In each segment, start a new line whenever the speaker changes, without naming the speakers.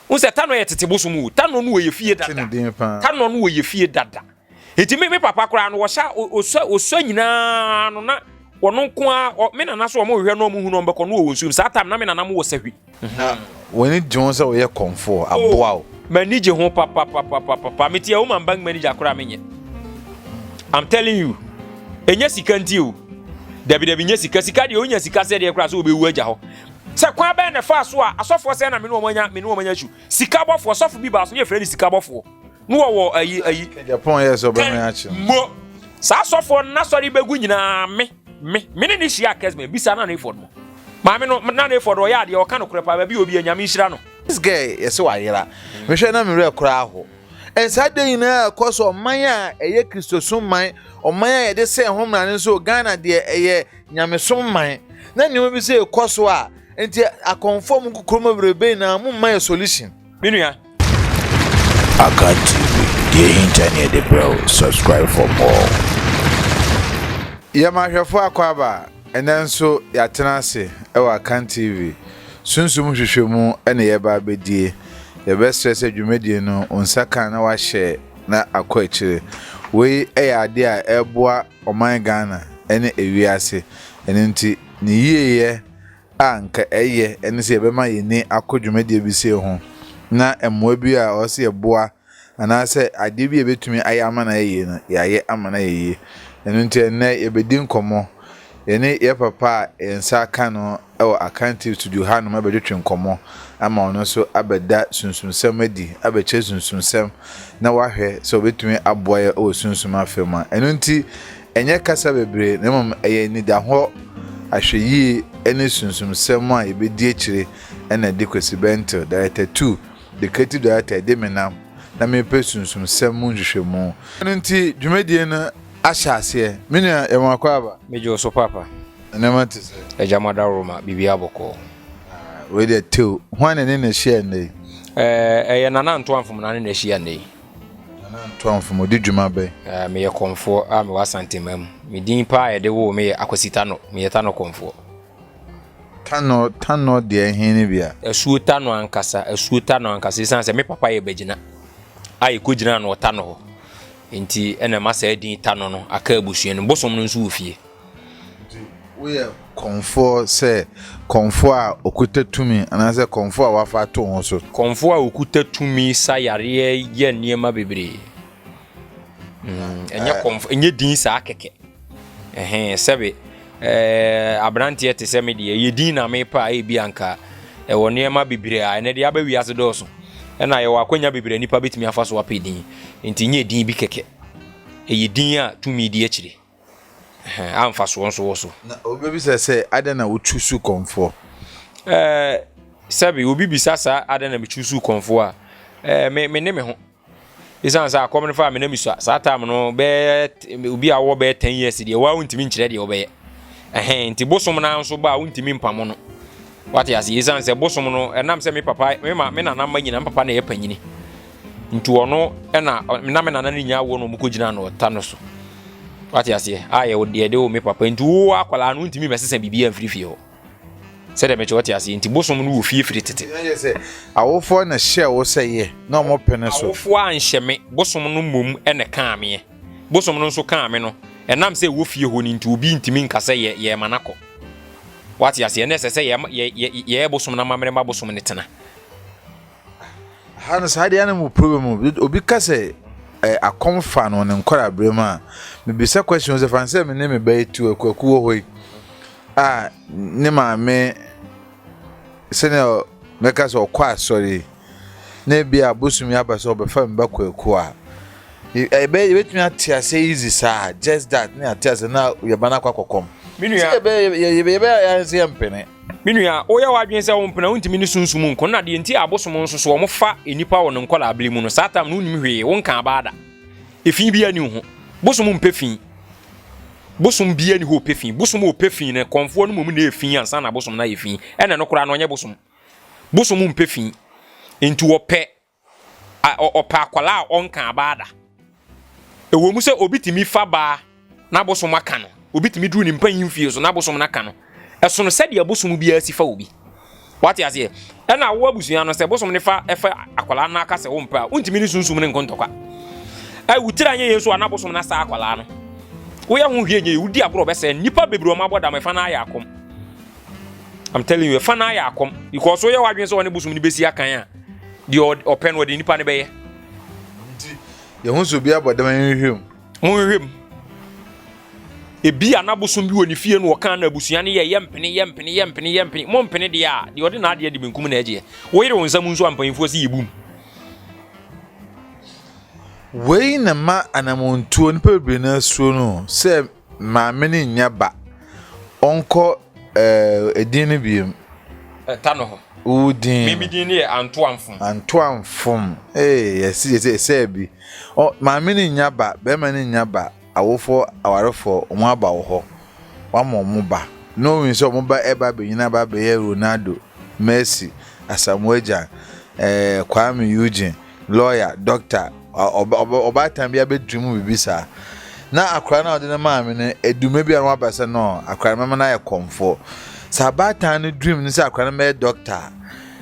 Wohu sɛ Tanɔ yɛ tete bosom o. Tanɔ no wɔ yɛ fie dada. Tanɔ no wɔ yɛ fie dada. Enti me me papa koraa no wɔhyɛ osua osua nyinaa no na wɔn nko a me nana so wɔn hwehwɛ no wɔn hu no wɔn bɛkɔ no wɔ wɔn nsuom saa tam na me nana mo wɔ sahwi. Na wɔn ani
gye ho sɛ wɔyɛ kɔmfoɔ oh, aboa o. M'ani gye ho
papapapapapa me ti a woman bank manager koraa me nyɛ. I'm telling you ɛnyɛ sika nti o dabi dabi nyɛ sika sika deɛ onya sika sɛ deɛ koraa sɛ wɔbɛwu agya hɔ Sɛ kwan bɛn na ɛfaa so a asɔfoɔ sɛɛ na me ne wɔn anya me ne wɔn anya su? Sika bɔfoɔ, ɔsɔfo bi baa so ne yɛfrɛ no sika bɔfoɔ no wɔ wɔ ayi ayi Japan yɛ sɛ ɔbɛn
akyi mo saa
asɔfoɔ no n'asɔre bɛgu nyinaa me me me ne ne hyia kɛsmɛ bisa na ne fɔd mo maame no na ne fɔd ɔyɛ adeɛ ɔka no korɛ paa baabi obi anyame nhyira no. This girl yɛ sɛ
wayera. Mehwɛ na me werɛ koraa aho. And saa adeɛ nyinaa a ɛkɔ so ɔman a ɛyɛ Kristosom man, ɔman a yɛde sɛn ho mmara no nso Ghana deɛ ɛyɛ Nyamesom man na nneɛma bi sɛ ɛkɔ so a nti akɔnfɔ mu kokoro mu bebrebe na mo mma yɛ solution me nua.
Akan TV, deɛ ɛhinta ne yɛde brɛ wo, subscribe for more.
Yɛ ma ahwɛfo akɔ aba a, ɛnnɛ nso yɛatena ase wɔ Akan TV Sunsum Nhwehwɛmu na yɛreba abɛdie. Yɛbɛsrɛ sɛ dwumadie no wo nsa ka na woahyɛ na akɔ akyire. Wei yɛ adeɛ a ɛboa. ɔman Ghana ne ewiase. Ɛno nti ne yieyɛ a anka ɛyɛ ne sɛ yɛbɛma yɛn ani akɔ dwumadie bi sei ho na mmoa bi a ɔsɛ yɛboa anaasɛ adeɛ bi a yɛbɛtumi ayɛ ama no ayɛ yie no yɛayɛ ama no ayɛ yie. Ɛno nti ɛnnɛ yɛbɛdi nkɔmmɔ yɛne yɛn papa a yɛn nsa aka no wɔ Akantew studio hanom abɛtwetwe nkɔmmɔ ama ɔno nso abɛda sunsumsɛm adi, abɛkyerɛ sunsumsɛm na wahwɛ sɛ obetumi aboa yɛn wɔ sunsum afa mu a. Ɛno nti, ɛnyɛ kasa bebree na mmom ɛyɛ anidahɔ, ahwɛyiye ne sunsumsɛm a yebedi akyiri na ɛde Kwesi Benttle, Director Two, The Creative Director, ɛde me nam na merepɛ sunsumsɛm mu nhwehwɛmu. Ɛno nti, dwumadi no ahyɛ aseɛ. Me nua, yɛ me w'akwaaba. Megye wo so papa.
Nneɛma te sɛ.
Agya ma daworo
ma biribiara bɔkɔɔ. Ah, wei deɛ
tew. Hwan na ne na ahyia nnɛ yi? Eh, ɛyɛ
Nana Ntoamfom na ne na ahyia nnɛ yi. Nana
Ntoamfom, ɔdi dwuma bɛn? Eh, meyɛ kɔmfoɔ
a mewɔ Asantema mu. Me din paa a yɛde woo me yɛ Akwasi Tanɔ. Meyɛ Tanɔ kɔmfoɔ. Tanɔ, Tanɔ
deɛ ɛhe ne bia? Asuo Tanɔ ankasa,
Asuo Tanɔ ankasa. Ɛsiane sɛ me papa yɛ bagyina a yɛkɔgyinaa no wɔ Tanɔ hɔ. Nti ɛna ɛma saa din Tanɔ no aka abusua no. Bosom no nso wɔ fie. Nti
woyɛ kɔmfoɔ sɛ kɔmfoɔ a ɔkuta tumi anaasɛ kɔmfoɔ a wɔafa ato wo ho so? Kɔmfoɔ a ɔkuta
tumi sa yareɛ yɛ nneɛma bebree. Mm, ɛnyɛ kɔmfoɔ, ɛnyɛ din saa kɛkɛ. Ɛhɛn, sɛbe, ɛɛ, aberanteɛ te sɛ me deɛ, ɛyɛ din na mepɛ a, ebi anka ɛwɔ nneɛma bebree a ɛnɛ deɛ aba wiase dɔɔso. Ɛna yɛwɔ akwanya bebree a nipa betumi afa so apɛ din. Nti nyɛ din bi kɛkɛ. Ɛyɛ din a tumi di akyire. a mfasoɔ nso wɔ so. Na wobɛbisa sɛ,
adɛn na wochuusu kɔmfoɔ? Ɛɛ, sɛbe
obi bisa saa adɛn na mechuusu kɔmfoɔ a, ɛɛ, me, me ne me ho. Ɛsiane sɛ akɔm no faa me na mesua. Saa tam no, bɛɛ, obi a wɔwɔ bɛɛ 10 years deɛ, wɔa wontumi nkyerɛ deɛ wɔbɛyɛ. Ɛhɛn, nti bosom no nso ba a wontumi mpamo no. Wate ase, ɛsiane sɛ bosom no, ɛnam sɛ me papa, me ma, me nana mma nyina, me papa na ɛyɛ panyini. Nti ɔno ɛna na me nana no nya awoɔ na wɔkɔgyina no ɔta no so wate aseɛ a yɛde wo me papa nti wo akwadaa no wontumi mɛsesa biribiaa mfiri fie hɔ sɛdeɛ mekyɛ wɔte aseɛ nti bosom no wɔ fie firi tete
awofoɔ na hyɛ wo sɛ yɛ na ɔmo pene so awofoɔ anhyɛ me
bosom no mmom ɛna kaa meɛ bosom no nso kaa me no ɛnam sɛ ɛwɔ fie hɔ no nti obi ntumi nka sɛ yɛ yɛ ma nakɔ wate aseɛ na ɛsɛ sɛ yɛ yɛ yɛ bosom no amammerɛ ma bosom no tena Aha
no saa deɛ na mo problem mu obi ka sɛ ɛ eh, akɔm fa no ne nkɔrɔ abere mu a mebisa question sɛ fan sɛ me ne me ba etu akuaku wɔ hɔ yi a ne maame sɛnea mɛka sɛ ɔkɔ asɔre na ebi a bosom yi aba sɛ ɔbɛfa me ba kwaku a ɛbɛ eh, yɛbɛtumi ate ase easy saa just that ne ate ase na yɛba no akɔ akɔkɔm sɛ yɛbɛyɛ yɛbɛyɛ yɛn sɛ yɛmpene Me nua, woyɛ
w'adwene sɛ wo mpena wontumi ne sunsum nko na deɛ nti a abosom nso so wɔn fa nnipa wɔ ne nkɔlaa bere mu no saa tam no wonim hwee wo nka abaa da efi bi ani ho bosom mpɛ fi bosom bi ani hɔ ɔpɛ fi bosom a ɔpɛ fi no kɔnfoɔ no mmom na efi ansa na abosom no ayɛ fi ɛna no koraa no ɔnyɛ bosom bosom mpɛ fi nti wɔpɛ ɔpɛ akwadaa a ɔnka abaa da. Ɛwɔ mu sɛ obi tumi fa baa na bosom aka no, obi tumi duru ne mpanyin fie so na bosom no aka no. Ɛsono sɛdeɛ bosom biara si fa obi. Wate aseɛ? Ɛna awo abusua no sɛ bosom ne fa ɛfa akwadaa no aka sɛ wompɛ a, wontumi ne sunsum ne nkontɔkwa. Ɛ wotiri anyɛ yɛn so a na bosom no asa akwadaa no. Woyɛ ho hwee nyɛ yɛ, wodi agorɔ bɛsɛ nnipa bebree wɔn abɔ dam ɛfa no ayɛ akɔm. I'm telling you, ɛfa no ayɛ akɔm because woyɛ w'adwene sɛ ɔne bosom no bɛsi akan a deɛ ɔpɛ no ɔde nipa no bɛyɛ nti
yɛho sɛ obi abɔ dɛm nhwehwɛ mu monhwehwɛ mu
ebi a n'abosom bi wɔ ne fie no ɔka na abusua no yɛ yɛ mpene yɛ mpene yɛ mpene yɛ mpene mo mpene deɛ a deɛ ɔde n'adeɛ de benkum na ɛgyeɛ woyere wo nsam nso a mpanyinfoɔ si yɛ bum
wei na ma anamontuo nipa bebree no asuo no sɛ Maame no nnya ba. Ɔnkɔ eh, edin no biem. Ɛta no hɔ.
Wo din. Me me din
no yɛ
Antoamfom. Antoamfom.
Ee, yɛsi yɛsi ɛsɛ bi. Ɔ maame no nnya ba, bɛrima no nnya ba, awofoɔ awarefoɔ wɔn aba wɔ hɔ. Wɔama wɔn ba. Knowing sɛ wɔn ba ɛba abɛnyina aba abɛyɛ Ronaldo, Messi, Asamoah Gyan, eh, Kwame Eugene. lɔya, dɔkta, ɔbaatan bi abɛduru mu biribi saa. Na akora no a ɔde no maame no, edume bi a wɔaba sɛ no, akora no mɛma no ayɛ kɔmfoɔ. Sɛ abaatan no duru mu no sɛ akora no bɛyɛ dɔkta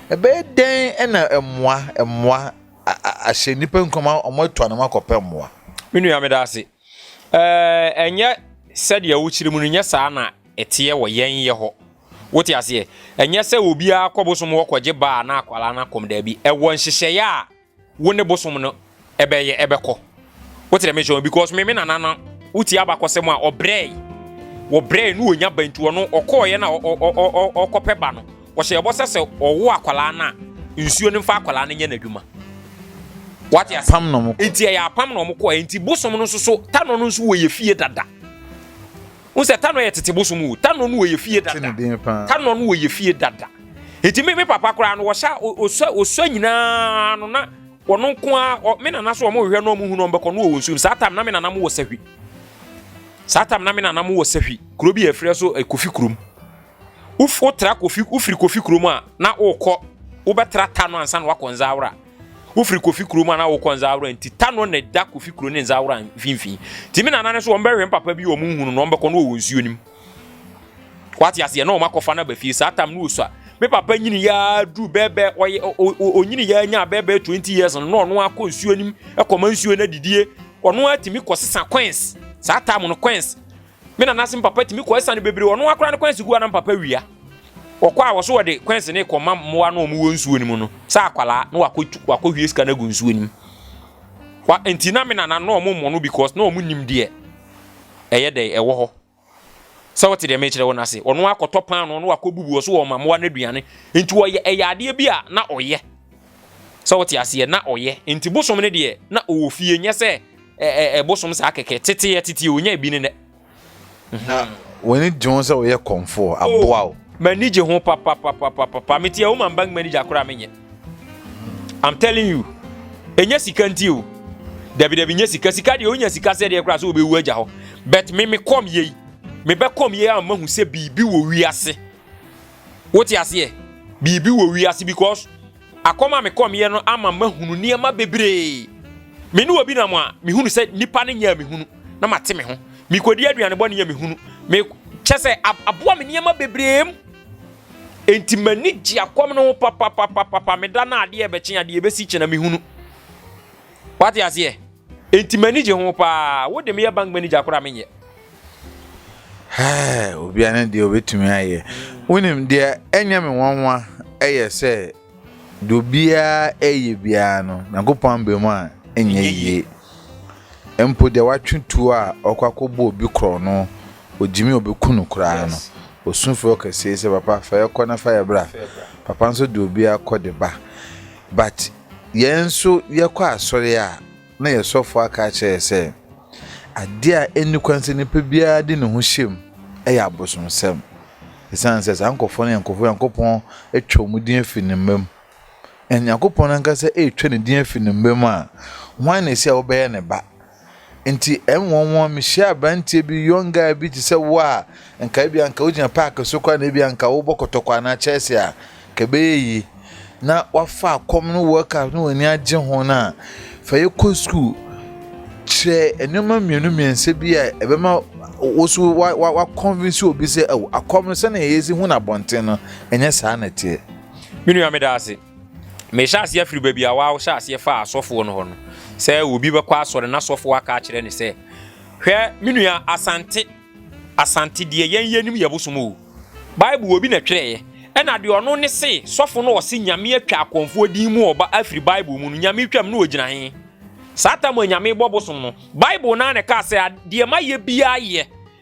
a, ɛbɛyɛ dɛn ɛna mmoa, mmoa ahyɛ nnipa nkuran wɔn atu anam akɔpɛ mmoa. Me nua meda ase.
Ɛɛ, ɛnyɛ sɛdeɛ wokyerɛ mu no, nyɛ saa na ɛteɛ wɔ yɛn yɛ hɔ. Wote aseɛ? Ɛnyɛ sɛ obiara kɔ bosom hɔ kɔgye baa na akwadaa no akɔm daabi. Ɛwɔ nhyehyɛeɛ a wo ne bosom no ɛbɛyɛ ɛbɛkɔ. Wote dɛ mekyerɛ because me me nana no wotie abakɔsɛm a ɔbrɛe wɔbrɛe no ɔnya ba nti ɔno ɔkɔɔeɛ na ɔkɔpɛ ba no Wɔhyɛ bɔ sɛ sɛ ɔwo akwadaa no a, nsuo no mfa akwadaa no nyɛ n'adwuma. Wate ase? Apam na wɔn kɔ. Nti ɛyɛ
apam na wɔn kɔ.
Nti bosom no nso so tanɔ no nso wɔ yɛ fie dada. N sɛ tanɔ yɛ tete bosom o. Tanɔ no wɔ yɛ fie dada. Tanɔ no wɔ yɛ fie dada. Nti me me papa koraa no wɔhyɛ osua osua nyinaa no na wɔn nko a me nana so wɔn hwehwɛ na wɔn hu na wɔn bɛkɔ no wɔ wɔn nsuom. Saa tam na me nana mo wɔ sahwi. Saa tam na me nana mo wɔ sahwi. Kuro bi yɛ frɛ so kofi kurom. Wof wotra Kofi wofiri Kofi kurom a, na wokɔ wobɛtra Tano ansa na wakɔ Nzaawora. Wofiri Kofi kurom a na wokɔ Nzaawora nti Tano na ɛda Kofi kuro ne Nzaawora mfimfini. Nti me nana no so wɔn bɛhwɛ papa bi wɔn nhunu no wɔn bɛkɔ no wɔ nsuo nim. Wate aseɛ na wɔn akɔfa no aba fie saa tam no osua. Me papa nyini yaa duru bɛɛbɛɛ ɔyɛ onyini yaa nya bɛɛbɛɛ twenty years no na ɔno akɔ nsuo nim ɛkɔma nsuo no adidie ɔno atumi kɔsesa coins saa tam no coins Me nana se me papa tumi kɔ asiane bebree ɔno akora ne kwansi gu a na me papa wia ɔkɔ a wɔso wɔde kwansi ne kɔma mmoa no wɔn wɔ nsuo no mu no sɛ akwalaa na wakɔ wakɔ hwie sika no agu nsuo no mu wa nti na me nana no wɔn mmɔ no because na wɔn nim deɛ ɛyɛ dɛ ɛwɔ hɔ sɛ wɔte deɛ mekyerɛ wɔn ase ɔno akɔtɔ paano no wakɔ bubu ɔso wɔn mmoa no aduane nti wɔyɛ ɛyɛ adeɛ bi a na ɔyɛ So wote aseɛ? Na ɔyɛ. Nti bosom no deɛ, na ɔwɔ fie, nyɛ sɛ ɛ ɛ bosom saa kɛkɛ. Tete yɛ tete, ɔnya ebi ne nɛ. Na
w'ani gye ho sɛ woyɛ kɔmfoɔ, aboa wo. M'ani gye ho
papapapapapa. Me te a woman bank manager koraa me nyɛ. I'm telling you. Ɛnyɛ sika nti o. Dabi dabi nyɛ sika. Sika deɛ onya sika sɛ deɛ koraa sɛ ɔbɛwu agya hɔ. But me me kɔm yei. Me bɛ kɔm yei a mahu sɛ biribi wɔ wiase. Wote aseɛ? Biribi wɔ wiase because akɔm a mekɔmyɛ no ama mahunu nneɛma bebree. Me ne obi nam a, mehunu sɛ nipa no nyɛ a mehunu na mate me ho. Mekɔdi aduane bɔne a mehunu. Me kyɛ sɛ aboa me nneɛma bebree mu. Enti m'ani gye akɔm no ho papapapapa. Meda no adeɛ ɛbɛkye adeɛ ɛbɛsi kyɛ na mehunu. Wate aseɛ? Enti m'ani gye ho paa. Wo de meyɛ bank manager koraa menyɛ. Hɛɛ,
obia ne deɛ obɛtumi ayɛ. Wonim deɛ ɛnyɛ me nwanwa ɛyɛ sɛ deɛ obiara ɛyɛ biara no Nyankopɔn ambɛ mu a ɛnyɛ yie. Mpo deɛ watwe tuo a ɔkɔ akɔbɔ obi korɔ no ogyimi a obɛku no koraa no ɔsu frɛ ɔkɛseɛ sɛ papa fa yɛkɔ na fa yɛbra. Papa nso de obiara kɔ de ba. But Yɛn nso yɛkɔ asɔre a, na yɛn sɔfo aka akyerɛ yɛn sɛ, ade a enni kwan sɛ nipa biara de ne ho hyɛ mu yɛ abosonsɛm. Esiane sɛ saa nkurɔfo no yɛ nkurɔfo a Onyankopɔn atwa wɔn din afi ne mma mu, na Onyankopɔn ankasa retwa ne din afi ne mma mu a, hwan na ese a wobɛyɛ ne ba? Enti ɛnwonwon, mihyia aberanteɛ bi, young guy bi te sɛ wo a, nka ebia nka wogyina park so koraa na ebia nka wobɔ kɔtɔkɔ anaa chɛɛse a, nka ɛbɛyɛ yie. Na woafa akɔm ne World Cup na w'ani agye ho no a, fa yɛ kɔ sukuu. Kyerɛ nneɛma mmienu mmiɛnsa bi a ɛbɛma wo so woakɔnvinsi obi sɛ, oh, akɔm no sɛnea yɛsi hu no abɔnten no, ɛnyɛ saa na ɛteɛ. Me
nua, meda ase. Mehyɛ aseɛ firi baabi a wɔawo hyɛ aseɛ fa asɔfoɔ no hɔ no sɛ obi bɛkɔ asɔre na asɔfoɔ aka akyerɛ ne sɛ hwɛ me nua asante asante deɛ yɛn yɛnim yɛ bosom o bible obi na twerɛeɛ ɛna deɛ ɔno ne se sɔfo no ɔse nyame atwa akɔmfoɔ din mu ɔba afiri bible mu no nyame twam no ɔgyina he saa tam a nyame bɔ bosom no bible no a na ɛka sɛ deɛ ma yɛ biaa yɛ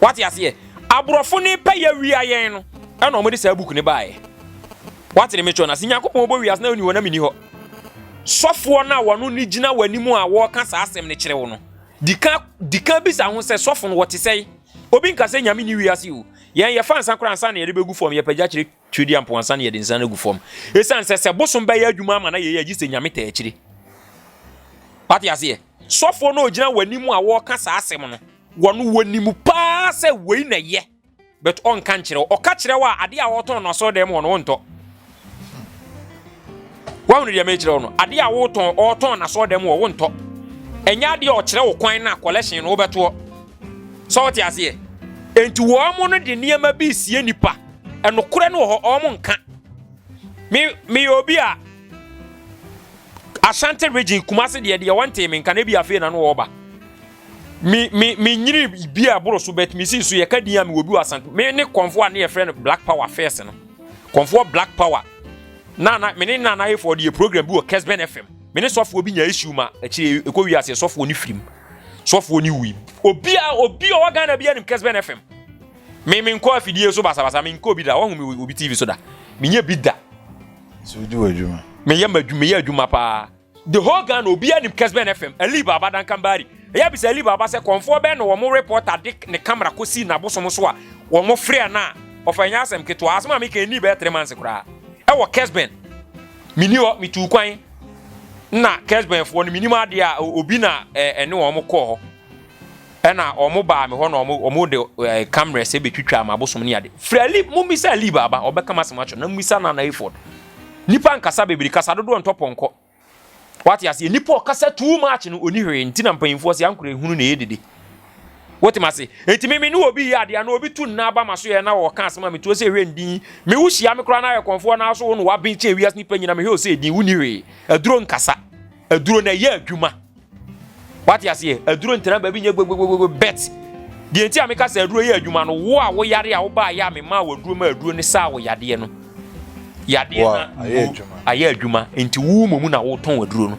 Wate aseɛ? Aborɔfo ne pɛyɛ wia yɛn no, ɛna wɔn de saa book ne baeɛ. Wate ne metwɛ no ase? Nyankopɔn bɔ wiase na ɔni hɔ na meni hɔ. Sɔfoɔ no a wɔn ne gyina wɔn anim a wɔreka saa asɛm no kyerɛ wo no, dika dika bisa ho sɛ sɔfo no wɔte sɛe? Obi nka sɛ nyame ni wiase o. Yɛn yɛfa nsa koraa ansa na yɛde bɛgu fam yɛpagya kyerɛ Twedeɛ mpo ansa na yɛde nsa no agu fam. Ɛsiane sɛ sɛ bosom bɛyɛ adwuma ama na yɛyɛ agye sɛ nyame taa akyire. Wate aseɛ? Sɔfoɔ no ɔgyina w'anim a wɔreka saa asɛm no, wɔn wɔnim paa sɛ wei na ɛyɛ, but ɔnka nkyerɛ wo. Ɔka kyerɛ wo a, adeɛ a wɔtɔn no asɔre dɛm hɔ no wontɔ. Wahunu deɛ mekyerɛ wo no? Adeɛ a wotɔn ɔtɔn no asɔre dɛm hɔ wontɔ. Ɛnyɛ adeɛ a ɔkyerɛ wo kwan na collection no wobɛtoɔ. sɛ wɔte aseɛ enti wɔn no de nneɛma bi sie nipa ɛnokorɛ no wɔ hɔ wɔn nka me meyɛ obi a Ashanti region Kumasi deɛ deɛ wɔntee me nka na ebi afei na no wɔba me me me nyini bi a ɛboro so bɛt me si so yɛ ka din a me wɔ bi wɔ Asante me ne kɔnfoɔ a ne yɛ frɛ no Black Power first no kɔnfoɔ Black Power na na me ne na na yɛ fɔ deɛ program bi wɔ Kesben FM me ne sɔfoɔ bi nya issue ma akyire ekɔ wi ase sɔfoɔ ne firim. sɔfoɔ no wui obia obi ɔwɔ Ghana bia nim Kesben FM me me nkɔ afidie so basabasa me nkɔ obi da wɔn mu obi TV so da me nyɛ bi da so di wɔ
adwuma me yɛ ma adwuma me yɛ
adwuma paa the whole Ghana obia nim Kesben FM Ali Baba Dankambari ɛyɛ bisa Ali Baba sɛ kɔnfoɔ bɛn na wɔn reporter de ne camera kɔ si na bosom so a wɔn frɛ no a ɔfa nyɛ asɛm ketewa asɛm a meka ɛni bɛyɛ three months koraa ɛwɔ Kesben meni hɔ metu kwan Na Kesbenfoɔ no, menim adeɛ a obi na ɛne wɔn kɔɔ hɔ, ɛna wɔn baa me hɔ na wɔn wɔn de kamera sɛ betwitwa ma abosom ne ade. Fira li mo bisa li baaba ɔbɛka ma asɛm atwere na mo bisa na na efod. Nipa nkasa bebree kasa dodoɔ ntɔ pɔnkɔ. Wate aseɛ nipa ɔkasa too much no oni hwee nti na mpanyinfoɔ sɛ ankora ehunu na ɛyɛ dede. Wote m'ase? Enti me me ne obi yɛ adeɛ na obi tu nna aba ma so yɛ na ɔka asɛm a metuo sɛ ɛhwɛ ndin. Me wo hyia me koraa na ayɛ kɔnfoɔ na so wo no waben kyɛn wiase nipa nyina mehwɛ wo sɛ ɛdin wonni hwee. Aduro nkasa. Aduro na ɛyɛ adwuma. Wate aseɛ? Aduro ntena baabi nyɛ gbogbogbogbo bet. Deɛ nti a meka sɛ aduro yɛ adwuma no wo a wo yare a wo baa yɛ a me maa wo aduro ma aduro ne saa wo yadeɛ no. Yadeɛ na ayɛ adwuma. Ayɛ adwuma. Enti wo mmomu na wo tɔn aduro no.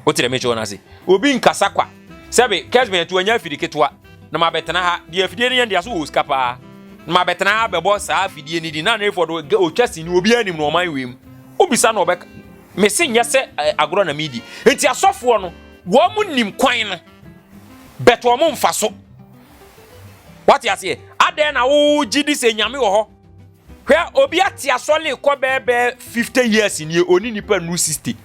wote dɛm nhyɛ wɔn ase obi nkasa kwa sɛbe kɛsbɛn to anya afiri ketewa na mabɛtena ha deɛ afidie no yɛ ndeɛ so wɔ sika paa na mabɛtena ha bɛbɔ saa afidie no di na ne fɔdo ɔtwa sini obi anim na ɔman wei mu wobisa na ɔbɛka mese nyɛ sɛ eh, agorɔ na medi nti asɔfoɔ no wɔn nim kwan no bɛtɔ wɔn mfa so wate aseɛ adɛn na wogye di sɛ nyame wɔ hɔ Hwɛ obi ate asɔre kɔ bɛɛbɛɛ fifty years nie ɔne nipa nu sixty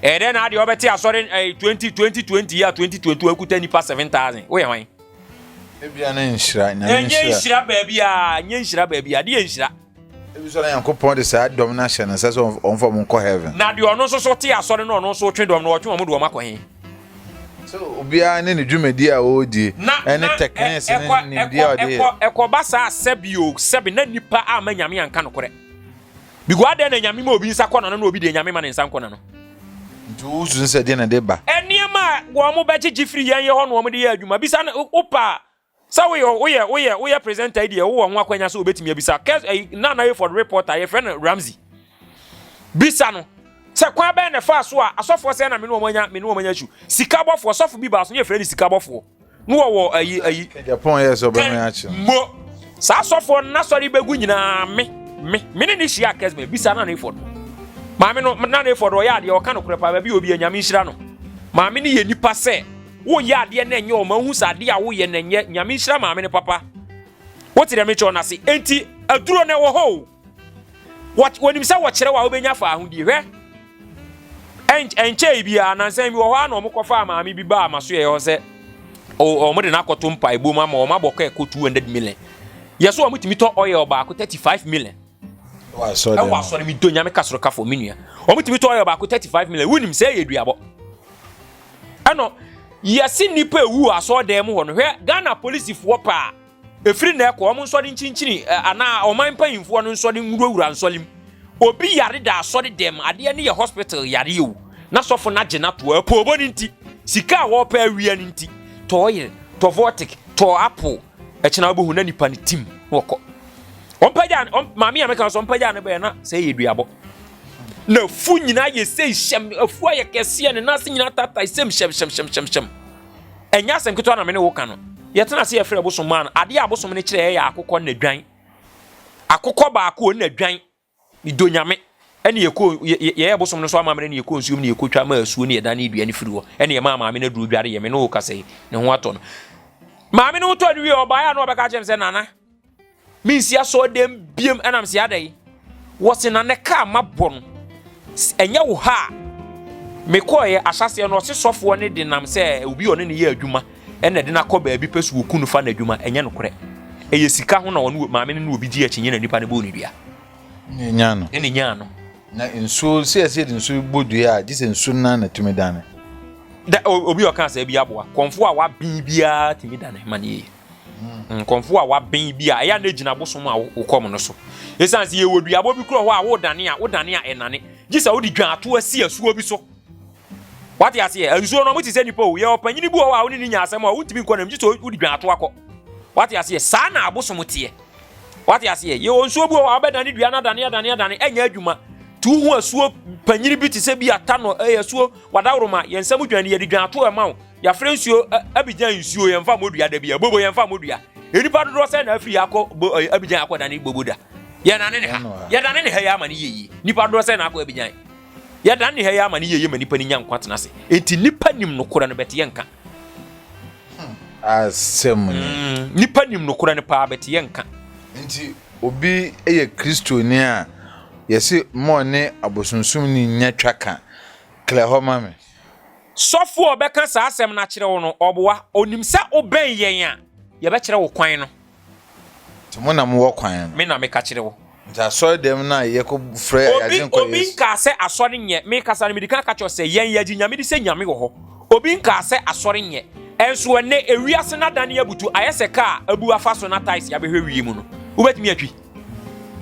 ɛyɛ dɛ na adeɛ ɔbɛte asɔre ɛyɛ eh, twenty twenty twenty yɛ twenty twenty one kuta nipa seven thousand woyɛ hwan. ebia ne nhyira
nyame nhyira ɛnyɛ nhyira baabi
a ɛnyɛ nhyira baabi a adeɛ nhyira. ebi sɔ na
nyankopɔn de saa dɔm no ahyɛ no nsa sɛ ɔmfa ɔmo nkɔ heaven. na deɛ ɔno nso so te
asɔre no ɔno nso twe dɔm no ɔtwe ɔmo de ɔmo akɔ he. So
obiara ne ne dwumadi a ɔredi ne teknese ne nimdeɛ a ɔde yɛ? Ɛkɔba saa a, sɛbe
o, sɛbe na nnipa amma Nyame anka nokorɛ. Because adɛn na Nyame ma obi nsa kɔ n'ano na obi deɛ Nyame mma ne nsa nkɔ n'ano? Nti wosusu
sɛ deɛ na ɛde ba? Nneɛma a
wɔbɛgyegye firi yɛn yɛ hɔ na wɔde yɛ adwuma. Bisa no, wopɛ a, Sɛ woyɛ ɔ woyɛ woyɛ woyɛ presenter yi deɛ wowɔ ho akwanya sɛ wobɛtumi abisa kɛs ɛyi eh, Nana Hayford report a yɛfrɛ no Ramsey bisa no sɛ kwan bɛn na ɛfaa so a asɔfoɔ sɛ na me ne wɔn anya me ne wɔn anya su sikabɔfoɔ sɔfo bi baa so ne yɛfrɛ no sikabɔfoɔ no wɔwɔ ayi ayi Japan yɛ sɛ ɔbɛmɛ
akyi no mo saa
asɔfoɔ no n'asɔre bɛgu nyinaa me me me ne ne hyia kɛs me bisa Nana Hayford maame no Nana Hayford ɔyɛ adeɛ ɔka no korɛ paa baabi obi anyame nhyira no maame ne yɛ nipa sɛ Woyɛ adeɛ na ɛnyɛ ɔma hu sɛ adeɛ a woyɛ na ɛnyɛ nyame nhyira maame no papa wote dɛ metwɛ ɔnase enti aduro na ɛwɔ hɔ o wɔnim sɛ wɔkyerɛ wɔ a wobɛnya fa ahodie hwɛ ɛnkyɛe bi a nansan bi wɔ hɔ a na wɔkɔfaa maame bi baa ma so yɛ hɔ sɛ wɔn de no akɔto mpa ebom ama wɔn abɔ kɔ ɛkɔ 200 million yɛ so wɔn tumi tɔ ɔyɛ ɔbaako 35 million
ɛwɔ asɔre mi do nyame ka soro
kafo mi nua wɔn tumi tɔ ɔyɛ ɔbaako 35 million wunim sɛ ɛyɛ duabɔ ɛno yɛse nnipa ewu wɔ asɔɔdan mu hɔ no hwɛ Ghana polisifoɔ paa ɛfiri na ɛkɔ wɔn nsɔre nkyinkyini anaa ɔman mpanyinfoɔ no nsɔre nwurawura nsɔre mu obi yare da asɔre dɛm adeɛ no yɛ hospital yare o na sɔfo no agye no ato apoobo no nti sika a wɔpɛ awia no nti tɔ oil tɔ vortic tɔ apple ɛkyena wobɛhu na nipa no tim na wɔkɔ ɔmpagya maame a meka sɛ ɔmpagya no bɛɛ na sɛ yɛ duabɔ N'afu nyinaa yɛ sei hyɛm, afu ayɛ kɛseɛ, ne nan ase nyinaa tatae sɛm hyɛmhyɛmhyɛmhyɛm. Ɛnyɛ asɛm ketewa na me ne wo ka no. Yɛtena ase yɛfrɛ bosom maa no. Adeɛ a bosom no kyerɛ yɛ akokɔ na dwan. Akokɔ baako na dwan. Medɔ nyame. Ɛne yɛkɔ yɛyɛ bosom no so amammerɛ ne yɛkɔ nsuom ne yɛkɔtwa ma asuo ne yɛda ne dua no firi hɔ. Ɛne yɛmaa maame no aduro dware yɛ me ne wo kasa yi. Ne ho atɔ no. Maame no ho tɔ no wie ɔbaeɛ a na ɔbɛka kyerɛ me sɛ nana mensi asɔɔdɛm biam ɛnam sɛ adɛn wɔse na ne kaa mabɔ no ɛnyɛ wo ha a mekɔɛ ahyɛseɛ no ɔse sɔfoɔ no de nam sɛ obi ɔne ne yɛ adwuma ɛna de no akɔ baabi pɛ so wɔku no fa no adwuma ɛnyɛ nokorɛ ɛyɛ sika ho na wɔne maame no ne obi gye akyinnye na nipa no bɔɔ ne dua ne nyaa
no ne nyaa no
na nsuo
sɛ ɛsɛ de nsuo bɔ dua a gye sɛ nsuo no na tumi dane da
obi ɔka sɛ bi aboa kɔmfoɔ a waben biara tumi dane ma ne yie Nkɔmfo a waben bi a ɛyɛ a na egyina bosom a wokɔm no so. Esiane sɛ yɛwɔ duabɔ bi korɔ hɔ a wodane a wodane a ɛnane. Gye sɛ wode dwan ato asi asuo bi so. Wate aseɛ? Nsuo no mote sɛ nipa o. Yɛwɔ panyin bi wɔ hɔ a wone ne nya asɛm a wontumi nkɔ nam gye sɛ wode dwan ato akɔ. Wate aseɛ? Saa na abosom teɛ. Wate aseɛ? Yɛwɔ nsuo bi wɔ hɔ a wobɛdane dua no adane adane adane ɛnyɛ adwuma. Ti wohu asuo panyin bi te sɛ bi atano ɛyɛ asuo wadaworoma yɛn nsam dwan yɛde dwan ato ɛma wo. Yɛafrɛ nsuo Abidjan nsuo yɛn fa mɔdua da bia bobo yɛn fa mɔdua nnipa dodoɔ sɛ na afiri akɔ Abidjan akɔ dane bobo da yɛdane ne ha yɛdane ne ha yɛ ama ne yɛyie nnipa dodoɔ sɛ na akɔ Abidjan yɛdane ne ha yɛ ama ne yɛyie ma nnipa no nya nkwa tena ase enti nnipa nim nokorɛ no bɛte yɛ nka asɛm
ni mm, nnipa nim
nokorɛ no paa bɛte yɛ nka nti
obi yɛ kristoni a yɛse mɔ ne abosonsomni nya twa ka klɛ hɔ ma me Sɔfo
a ɔbɛka saa asɛm no akyerɛ wo no, ɔboa. Onim sɛ wobɛn yɛn a, yɛbɛkyerɛ wo kwan no. Nti
mo na mowɔ kwan no. Me na meka kyerɛ wo.
Nti asɔre dɛm
no a yɛkɔ frɛ yɛn agye nkɔ Yesu. Obi nkaa sɛ asɔre
nyɛ. Me kasa no, mede kan ka kyerɛ sɛ yɛn yɛgye Nyame di sɛ Nyame wɔ hɔ. Obi nkaa sɛ asɔre nyɛ. Ɛnso ɛnnɛ ewiase no adane abutu ayɛ sɛ kaa a abu afa so na taes abɛhwɛ wie mu no. Wobɛtumi atwi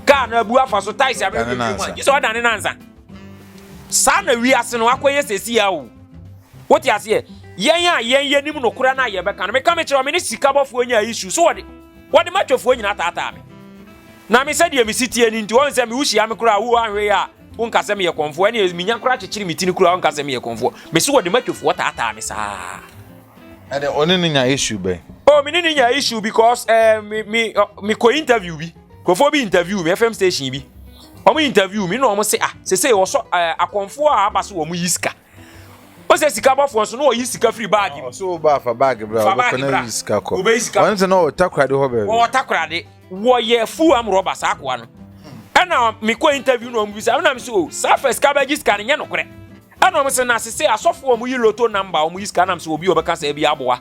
kaa no abu afa so taes abɛhwɛ wie mu a, gye sɛ ɔdane nansa. saa na wiase no akɔyɛ sɛsi a o wote aseɛ yɛn a yɛn yɛnim nokorɛ no a yɛbɛka no meka mekyerɛ me ne sikabɔfoɔ nya isu so wɔde wɔde matwafoɔ nyina taataa me na me sɛdeɛ me sitie no nti wɔn sɛ me wohyia me koraa wo anhwɛ yɛ a wonka sɛ meyɛ kɔmfoɔ ɛne menya koraa kyekyere me tini koraa wonka sɛ meyɛ kɔmfoɔ me so wɔde matwafoɔ taataa me saa ɛne
ɔne ne nya issue bɛn oh me ne ne nya issue
because eh, me, me, uh, me kɔ interview bi Nkurɔfoɔ bi interview me FM station bi wɔn interview me na wɔn se ah sese wɔsɔ ɛɛ eh, akɔnfoɔ a aba so wɔn yi sika o sɛ sika bɔfoɔ nso na wɔyi sika firi baagi mu. ɔsɔ ba fa baagi
bra ɔbɛ fana yi sika kɔ ɔbɛ yi sika kɔ wɔn ti na ɔtakorade hɔ bɛɛbi. wɔn ɔtakorade
wɔyɛ full am rɔba saa akoa no ɛna mi kɔ interview na wɔn bi sa ɛna mi so o saa fɛ sika bɛgye sika no nyɛ nokorɛ ɛna wɔn sɛ na sese asɔfo wɔn yi loto namba wɔn yi sika nam sɛ obi ɔbɛka sɛ ebi aboa.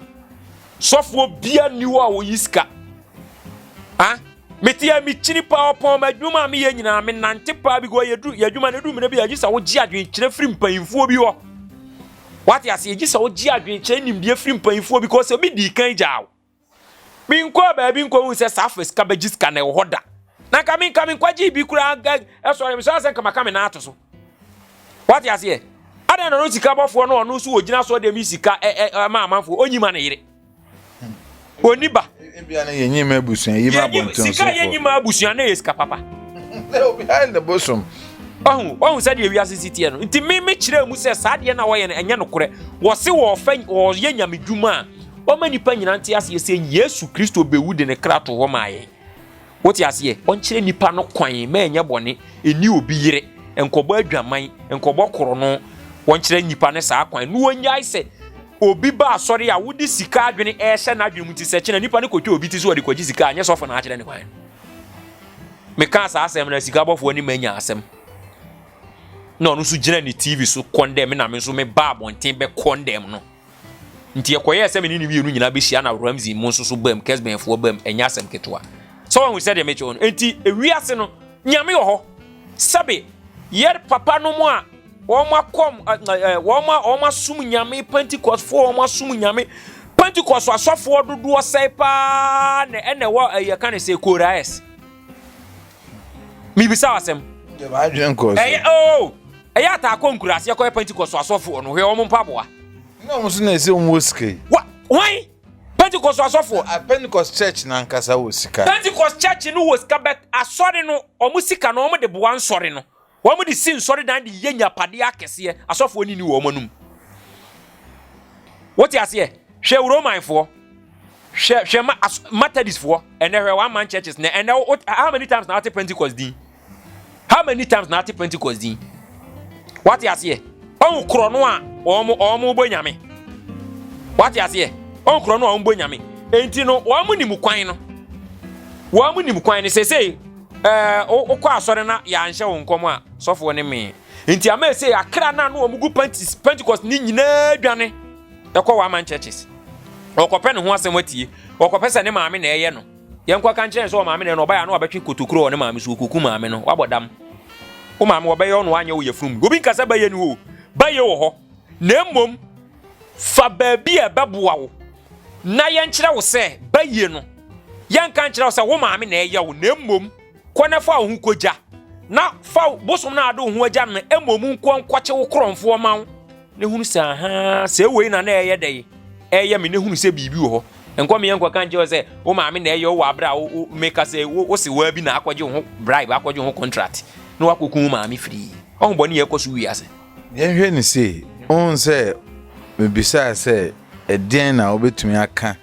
Sɔfoɔ bia nni hɔ a wɔyi sika. Ha mete a mekyini paa ɔpɔn ma adwuma a meyɛ nyinaa menante paa bi gɔ yɛduru yɛadwuma no ɛduru mmerɛ bi a gye sɛ wogye adwenkyerɛ firi mpanyinfoɔ bi hɔ wate ase yɛgye sɛ wogye adwenkyerɛ nimdeɛ firi mpanyinfoɔ bi kɔ sɛ obi dii kan gyaa wo menkɔɔ baabi nkɔhu sɛ saa afɛ sika bɛgye sika na ɛwɔ hɔ da na nka me nka me nkwagye bi koraa ɛsɔre me so asɛ nka maka me nan ato so wate aseɛ adan na ɔno sika bɔfoɔ no ɔno nso wɔgyina so deɛ me sika ɛma amanfoɔ ɔnyi ma ne yere ɔni ba ebia
no yɛnyi ma abusua yi ma abɔnten so sika yɛnyi ma abusua
na yɛ sika papa obi ha
ne bosom ɔhu ɔhu
sɛdeɛ wiase si teɛ no nti me me kyerɛ mu sɛ saa deɛ na wɔyɛ no ɛnyɛ nokorɛ wɔse wɔfɛ wɔyɛ nyame dwuma a ɔma nipa nyina nte aseɛ sɛ yesu kristo bɛwu de ne kra to hɔ maa yɛn Wote aseɛ? Ɔnkyerɛ nipa no kwan ma ɛnyɛ bɔne, ɛni obi yere, nkɔbɔ adwaman, nkɔbɔ korɔno, wɔnkyerɛ nipa no saa kwan na ɔnyae sɛ obi ba asɔre a wode sika adwene ɛhyɛ n'adwene mu ti sɛ kyena nipa no kɔtwa obi ti so ɔde kɔgye sika a nyɛ sɔfo na akyerɛ ne kwan. Meka saa asɛm na sika bɔfoɔ ne manya asɛm na ɔno nso gyina ne TV so kɔndɛm na me nso meba abɔnten bɛkɔndɛm no. Nti ɛkɔyɛɛ sɛ me ne no mmienu nyinaa bɛhyia na Ramsey mo nso so bam, Kesbenfoɔ bam, ɛnyɛ asɛm ketewa. Sɛ wahu sɛdeɛ mekyɛ wɔn. Nti ewiase no, Nyame wɔ hɔ. Sɛbe, yɛ papa no mo a, wɔn akɔm, wɔn a wɔn asom Nyame, Pentecostefoɔ wɔn asom Nyame, Pentecost asɔfoɔ dodoɔ sɛe paa na ɛna ɛwɔ ɛyɛ ka ne sɛ Koraes. mibisa wo asɛm ɛyɛ
oo oh, ɛyɛ
ataakɔ nkuraase ɛkɔyɛ pentecost asɔfoɔ no hwɛ wɔn mpaboa na wɔn nso na
ɛsɛ wɔn wɔ sika yi wa wɔn
pentecost asɔfoɔ ah, pentecost church
na nkasa wɔ sika pentecost church no wɔ
sika bɛt asɔre no wɔn sika no wɔn de boa nsɔre no Wɔn de si nsɔredan de yɛ nyapadeɛ akɛseɛ, asɔfoɔ nini wɔn anom. Wote aseɛ? Hwɛ wo Romanfoɔ, hwɛ hwɛ ma as Methodistfoɔ, ɛnɛ hwɛ one man churches na ɛnɛ wo how many times na wate Pentecost din? How many times na wate Pentecost din? Wate aseɛ? Ɔn korɔ no a wɔn wɔn bɔ nyame. Wate aseɛ? Ɔn korɔ no a wɔn bɔ nyame. Enti no wɔn nim kwan no. Wɔn nim kwan no sese Ɛɛ, wo, wokɔ asɔre na yɛanhyɛ wo nkɔm a, sɔfoɔ ne mee. Nti ama ɛsei, akra no a na wɔn gu panties, Pentecost ne nyinaa dwane ɛkɔ one-man churches. Ɔkɔpɛ ne ho asɛm atie. Ɔkɔpɛ sɛ ne maame na ɛyɛ no. Yɛnkɔ ka nkyerɛ sɛ ɔmaame na ɛyɛ no, ɔbaeɛ a na wabɛtwe kotokuro wɔ ne maame so, ɔkɔku maame no, wabɔ dam. Wo maame, wɔbɛyɛ wo na wanyɛ wo yafunu mu. Obi nka sɛ bayɛ ni hɔ o, bayɛ wɔ hɔ. Na mmom, Fa baabi a ɛbɛboa wo na yɛnkyerɛ wo sɛ ba yie no, yɛnka nkyerɛ wo sɛ wo maame na ɛyɛ wo, na mmom kɔ na fa wo ho kɔgya, na fa bosom no a wode wo ho agya no mmom nkɔ nkɔkye wo korɔmfoɔ ma wo, na hunu sɛ ahaa, sɛ wei na na ɛyɛ dɛn, ɛyɛ me, na hunu sɛ biribi wɔ hɔ. Nkɔ meɛ nkɔka nkyerɛ wo sɛ wo maame na ɛyɛ wo wɔ aberɛ a meka sɛ wo se waa bi na akɔgye wo ho bribe, akɔgye wo ho contract, na wakɔku wo maame firii. Ɔho bɔne a ɛkɔ so wiase. Yɛnhwɛ no sei,
wohu sɛ mebisae sɛ ɛdeɛn na wobɛtumi aka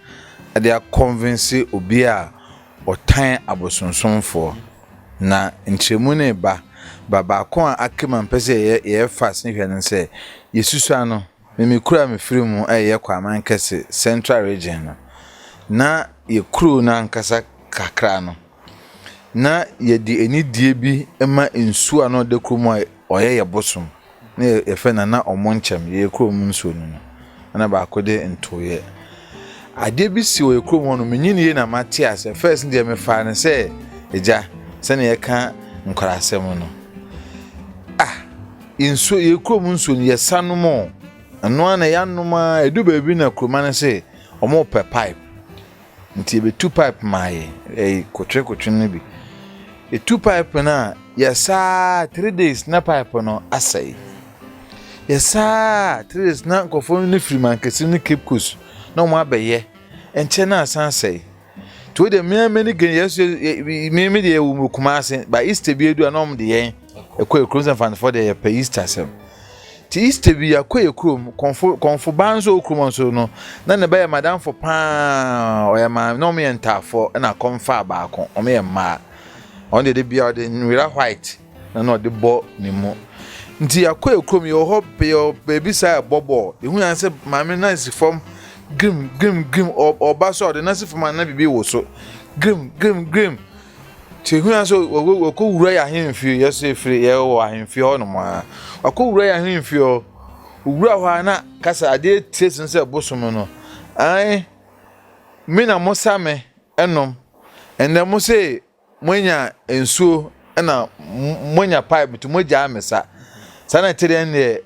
de akɔnvense obi a ɔtan abosonsomfoɔ. Na nkyerɛmu no reba, ba baako a aka mu a mpɛ sɛ yɛyɛ yɛyɛ fast ne hwɛ no sɛ yɛsusua no. Me me kuro a mefiri mu ɛyɛ Kwaamankɛse central region no, na yɛ kuro no ankasa kakra no, Na yɛde anidie bi ma nsuo a na ɔda kurom a ɔyɛ yɛ bosom na yɛfrɛ no na ɔmo nkyɛm yɛ kurom nsuo no no ɛna baako de ntoeɛ adeɛ bi si wɔ yɛ kurom hɔ no menyi ne yie na mate asɛ fɛs deɛ mefaa no sɛ agya sɛnea yɛka nkorasɛm no ah nsuo yɛ kurom nsuo no yɛsa nom ɛno a na yɛanom a ɛdu baabi na kuroma no se ɔmo pɛ pipe Nti yebetu pipe maa yɛ ɛyi kotwe kotwe no bi. Etu pipe no a yɛsaa three days na pipe no asɛe. Yɛsaa three days na nkurɔfoɔ no firi mankasi ne Cape Coast na wɔn abɛyɛ nkyɛn na asan asɛe. Nti wo deɛ mmea mmea ne gɛn yɛsɛ mmea mmea deɛ yɛwɔ mu Kumasi ba Easter bi edu a na wɔn de yɛn. Ɛkɔ yɛ kurom sɛ mfanfoɔ deɛ yɛpɛ Easter asɛm ti Easter bi akɔ yɛ kurom kɔnfo kɔnfo baa nso kurom nso no na ne ba yɛ madamfo paa ɔyɛ maame na wɔn yɛ ntaafoɔ ɛna akɔnfa baako wɔn yɛ mmaa wɔn deɛ de bia ɔde nwera white na na ɔde bɔ ne mu nti akɔ yɛ kurom yɛ wɔ hɔ yɛ beebi saa ɛbɔ bɔɔl ehu yan sɛ maame nan si fam grim grim grim ɔba so a ɔde nan si fam a na bibi wɔ so grim grim grim. Kyehwia so wɔkɔ wura yɛ ahemfie yɛ so efiri yɛ wɔ ahemfie hɔ nom a wɔkɔ wura yɛ ahemfie hɔ wura hɔ a na kasa adeɛ tie sin sɛ bosom no ae me na mo sa me ɛnom ɛnɛ mo se mo anya nsuo ɛna mo anya pipe to mo gyaa me sa saa na ɛte deɛ ɛnɛ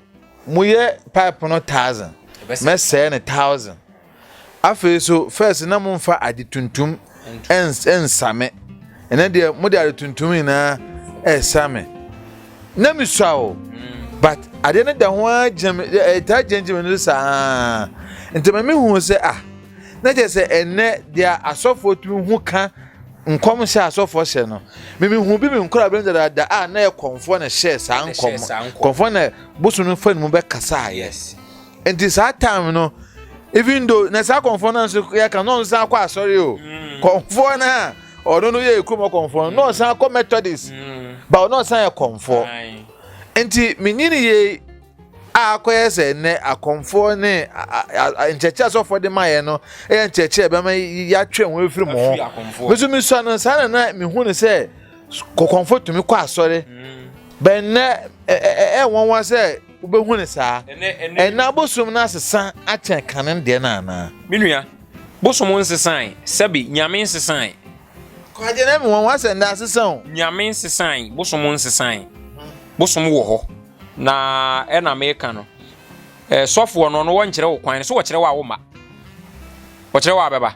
mo yɛ pipe no thousand mɛsɛɛ ne thousand. Afei nso, first na momfa ade tuntum nsa me. Ɛnɛ deɛ mode ade tuntum nyinaa ɛsa me. Na mesua o, but adeɛ no da ho ara gyina me, ɛtaa gyinagyina m'ani so saa. Nti ma mehu sɛ ah, na kyerɛ sɛ ɛnɛ deɛ asɔfoɔ tumi hu ka nkɔm hyɛ asɔfoɔ hyɛ no. Memehu bi me nkora bɛn dadaada a na yɛ kɔmfoɔ na hyɛɛ saa nkɔm. Kɔmfoɔ na bosom no fa ne mu bɛkasaeɛ. Yes. nti saa time no even though na saa kɔnfɔ no nso yɛ ka na ɔno san kɔ asɔre o mm. kɔnfɔ no a ɔno no yɛ ekurom kɔnfɔ no na ɔsan kɔ methodist mm. ba ɔno ɔsan yɛ kɔnfɔ nti menyini yie a akɔyɛ sɛ nnɛ akɔnfɔ ne nkyɛkyɛ asɔfo de ma yɛ no yɛ nkyɛkyɛ bɛma yɛatwe wɔn afiri mu ho nso mesua no saa na na mehu no sɛ kɔkɔnfo tumi kɔ asɔre mm. bɛn nnɛ ɛɛ ɛɛ wɔn wa sɛ. Wubehu no saa? Ɛnnɛ abosom no asesa akyɛn kane no deɛ no anaa? Me nua,
bosom nsesae, sɛbe, Nyame nsesae. Kwagye na
me wɔn wa sɛ nnɛ asesa o. Nyame nsesae,
bosom nsesae. Bosom wɔ hɔ, na ɛna meka no, eh, sɔfoɔ no, ɔno wɔnkyerɛ wo kwan no, so wɔkyerɛ wo a womma? Wɔkyerɛ wo a bɛba?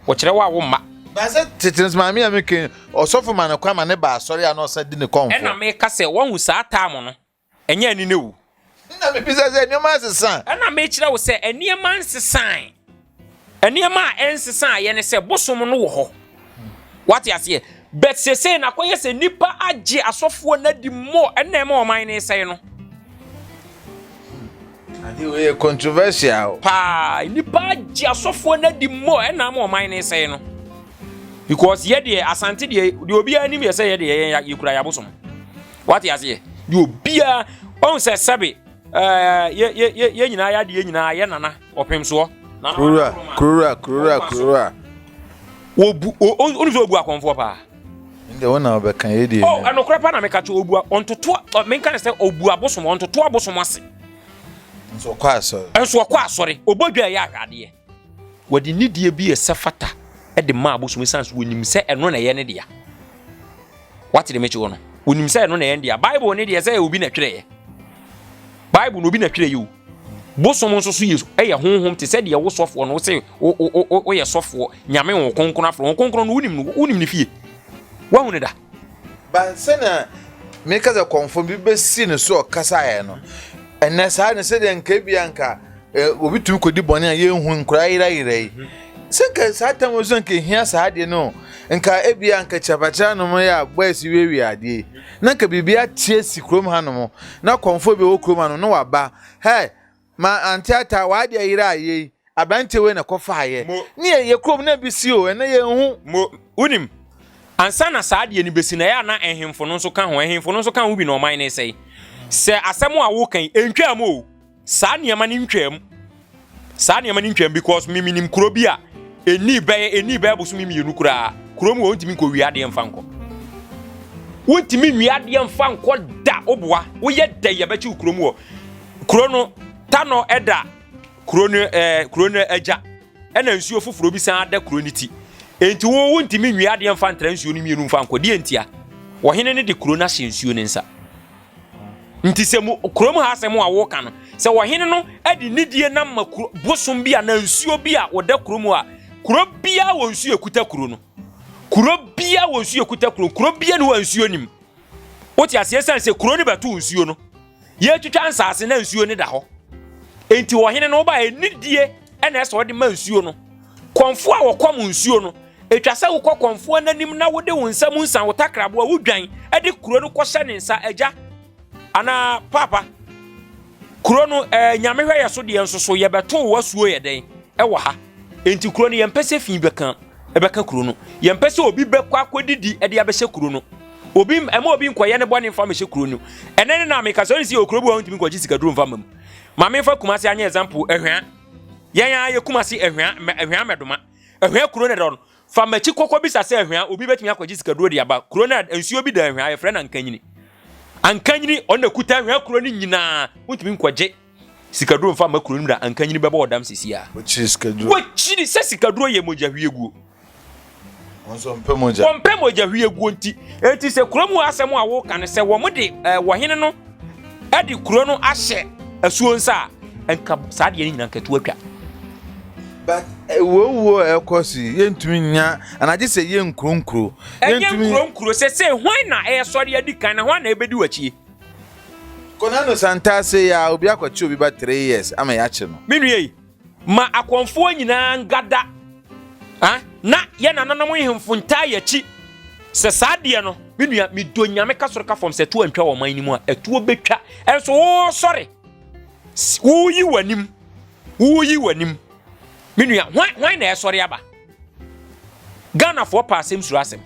Wɔkyerɛ wo a womma? Baasɛ tete no,
maame a meke, ɔsɔfo ma no kwan ma ne ba asɔre a na ɔsa di ne kɔmfoɔ. Ɛna meka sɛ, wahu
saa taamo no, Ɛnyɛ ani na awu. Ɛnna mebisa
sɛ, Nneɛma nsesa? Ɛnna mekyerɛ wo sɛ,
Nneɛma nsesae. Nneɛma a ɛnsesaeɛ ne sɛ bosom no wɔ hɔ. Wate aseɛ? But seesei na akɔyɛ sɛ nnipa agye asɔfoɔ no adi more, ɛnna ɛma ɔman no resɛe no.
Ade wei yɛ controversial. Paa, nnipa
agye asɔfoɔ no adi more, ɛnna ama ɔman no resɛe no. Because yɛ deɛ, Asante deɛ, deɛ obiara anim yɛ sɛ yɛ deɛ yɛn yɛkura yɛn abosom. wate aseɛ deɛ obiara ɔhu sɛ sɛbe yɛ nyinaa yɛ adeɛ nyinaa yɛ nana ɔpem soɔ kurura kurura kurura
kurura wɔbu
ɔnu sɛ ɔbu akɔmfoɔ paa ndɛ wo na
ɔbɛka yɛ deɛ oh, ɛnokorɛ pa na meka kyɛ
ɔbu ɔntotoa menka ne sɛ ɔbu abosom ɔntotoa abosom ase nso
ɔkɔ asɔre nso ɔkɔ asɔre
ɔbɔ dwa ɛyɛ ahwɛ adeɛ Wɔde nidie bi ɛsɛ fata de ma abosom san so wɔnim sɛ ɛno na ɛyɛ ne dea. Wate de mekyewɔ no? Wɔnim sɛ ɛno na ɛyɛ ne dea. Bible ne deɛ sɛ ɛyɛ obi na twerɛeɛ. Bible na obi na twerɛeɛ o. Bosom nso so yɛ honhom te sɛ deɛ wo sɔfoɔ no sɛ woyɛ sɔfoɔ nyame wo kronkron afrɛ wo kronkron no wonim no wonim ne fie. Woahu ne da? But sɛnea
meka sɛ kɔmfo bi besi ne so ɔkasaeɛ no, ɛnɛ saa ne sɛdeɛ nka ebia nka obi tumi kɔdi bɔne a yɛnhu nkora yerayera yi sɛ nka saa tam nso nka ehia saa adeɛ no nka ebia nka kyapakyerɛ nom yɛ a boys wiawia adeɛ yi na nka biribi ateɛ si kurom hanom na kɔmfo bi wɔ kurom hanom na waba hɛ Ma ante ata w'ade ayera a yei aberanteɛ wei na ɛkɔfaeɛ Mo, ne yɛ yɛ kurom na bi si o ɛnɛ yɛnhu. Mo, wonim
ansa na saa adeɛ no bɛsi no ɛyɛ a na ɛhemfo no nso ka ho ɛhemfo no nso ka ho bi na ɔman no resɛe sɛ asɛm a woka yi ɛntwaam o saa nneɛma no ntwaam saa nneɛma no ntwaam because me menim kuro bi a ɛnii bɛyɛ ɛnii bɛyɛ bosome mmienu koraa kuro mu a wontumi nkɔ wie adeɛ mfa nkɔ wontumi nwie adeɛ mfa nkɔ da woboa woyɛ dɛ yɛbɛkye wo kuro mu hɔ Kuro no, Tanɔ da kuro no ɛɛ eh, kuro no agya, ɛna nsuo foforɔ bi san da kuro no ti. Enti wo wontumi nwie adeɛ mfa ntra nsuo no mmienu mfa nkɔ deɛ ntia. Ɔhene no de kuro no ahyɛ nsuo no nsa. Nti sɛ mu kurom ha asɛm a woka no, sɛ ɔhene no de nidie nam ma kuro bosom bi a na nsuo bi a wɔda kuro mu a kuro biara wɔ nsuo ekuta kuro no. Kuro biara wɔ nsuo ekuta kuro, kuro biara ne wɔ nsuo nim. Wote aseɛ sɛ sɛ kuro no bɛto nsuo no Yɛretwitwa nsase na nsuo no da hɔ. Enti ɔhene no ba anidie na ɛsɛ ɔde ma nsuo no. Kɔmfoɔ a wɔkɔm nsuo no, ɛtwa sɛ wokɔ kɔmfoɔ n'anim na wode wo nsa mu nsa wo takraboa wodwan de kuro no kɔhyɛ ne nsa agya anaa papa. Kuro no ɛɛ nyame hwɛ yɛ so deɛ nso so yɛbɛto wo asuo yɛ dɛn ɛwɔ ha. Enti kuro no yɛmpɛ sɛ fi bɛka ɛbɛka kuro no. Yɛmpɛ sɛ obi bɛkɔ akɔdidi ɛde abɛhyɛ kuro no. Obi ɛma obi nkɔyɛ ne bɔne mfa mehyɛ kuro no. Ɛnɛ ne na meka sɛ ɔne si yɛ okuro bi wɔ ntumi nkɔgye sikaduro mfa ma mu. Ma memfa Kumase anyɛ example ɛhwea. Yɛn ara yɛ Kumase ɛhwea ɛhwea mɛdoma. Ɛhwea kuro no dɔ no. Fa m'akyi kɔkɔ bisa sɛ ɛhwea obi bɛtumi akɔgye sikaduro de aba. Kuro no nsuo bi da ɛhwea yɛfrɛ no ankanyini. Ankanyini ɔno na ɛkuta ɛhwea kuro no nyinaa wontumi nkɔgye. Sikaduro nfa mma kuro no mu na anka nyini bɛbɔ ɔdam sisi a. Wɔkyiri sikaduro.
Wɔkyiri sɛ sikaduro
yɛ mogya hwieguo.
Wɔnso mpɛ mogya. Wɔmpɛ mogya hwieguo nti.
Eti sɛ kuro mu asɛm a wɔka no sɛ wɔn de ɛɛ wɔhene no ɛde kuro no ahyɛ asuo nsa a nka saa deɛ no nyinaa nka tu atwa.
but eh, wuowuo a ɛkɔ so yi yɛntumi nya anagye sɛ yɛ nkuronkuro ɛnyɛ nkuronkuro
sɛ sɛ hwan na ɛsɔre adi kan na hwan na ɛbɛdi w'akyie
Konanu Santah say ya obi akɔkye obi ba three years ama yakye no. Me nua yi,
ma akɔmfoɔ nyinaa ngada ah na yɛ nananom nhemfo ntaa yakyi sɛ saa deɛ no. Me nua, me dɔ Nyame ka soro ka fam sɛ tuo antwa wɔ ɔman no mu a, ɛtuo bɛtwa. Ɛnso wo sɔre, wo yi w'anim, wo yi w'anim. Me nua, hwan, hwan na ɛsɔre aba? Ghanafoɔ pɛ asɛm suro asɛm.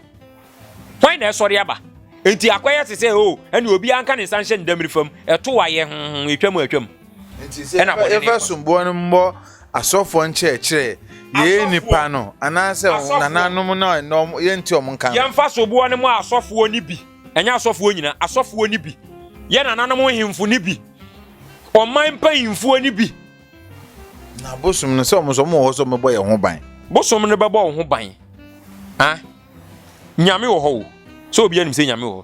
Hwan na ɛsɔre aba? Enti akɔyɛ te sɛ, oh, ɛne obiara nka ne nsa nhyɛ ne damiri fam, ɛtow ayɛ, hmm, etwam a atwam.
Enti sɛ yɛfa somboɔ no mmɔ asɔfoɔ nkyerɛkyerɛ, yɛyɛ nnipa no, anaasɛ nananom no a nnɛ yɛnte wɔn nka no. Yɛmfa soboɔ no mmɔ
asɔfoɔ no bi, ɛnyɛ asɔfoɔ nyinaa, asɔfoɔ no bi, yɛn nananom nhemfo no bi, ɔman mpanyimfoɔ no bi. Na
bosom no sɛ wɔn nso wɔwɔ hɔ sɛ wɔbɛbɔ yɛn ho ban. Bosom no bɛbɔ wo
ho ban. Ah. Nyame wɔ hɔ o. Sɛ obiara nim sɛ Nyame wɔ hɔ.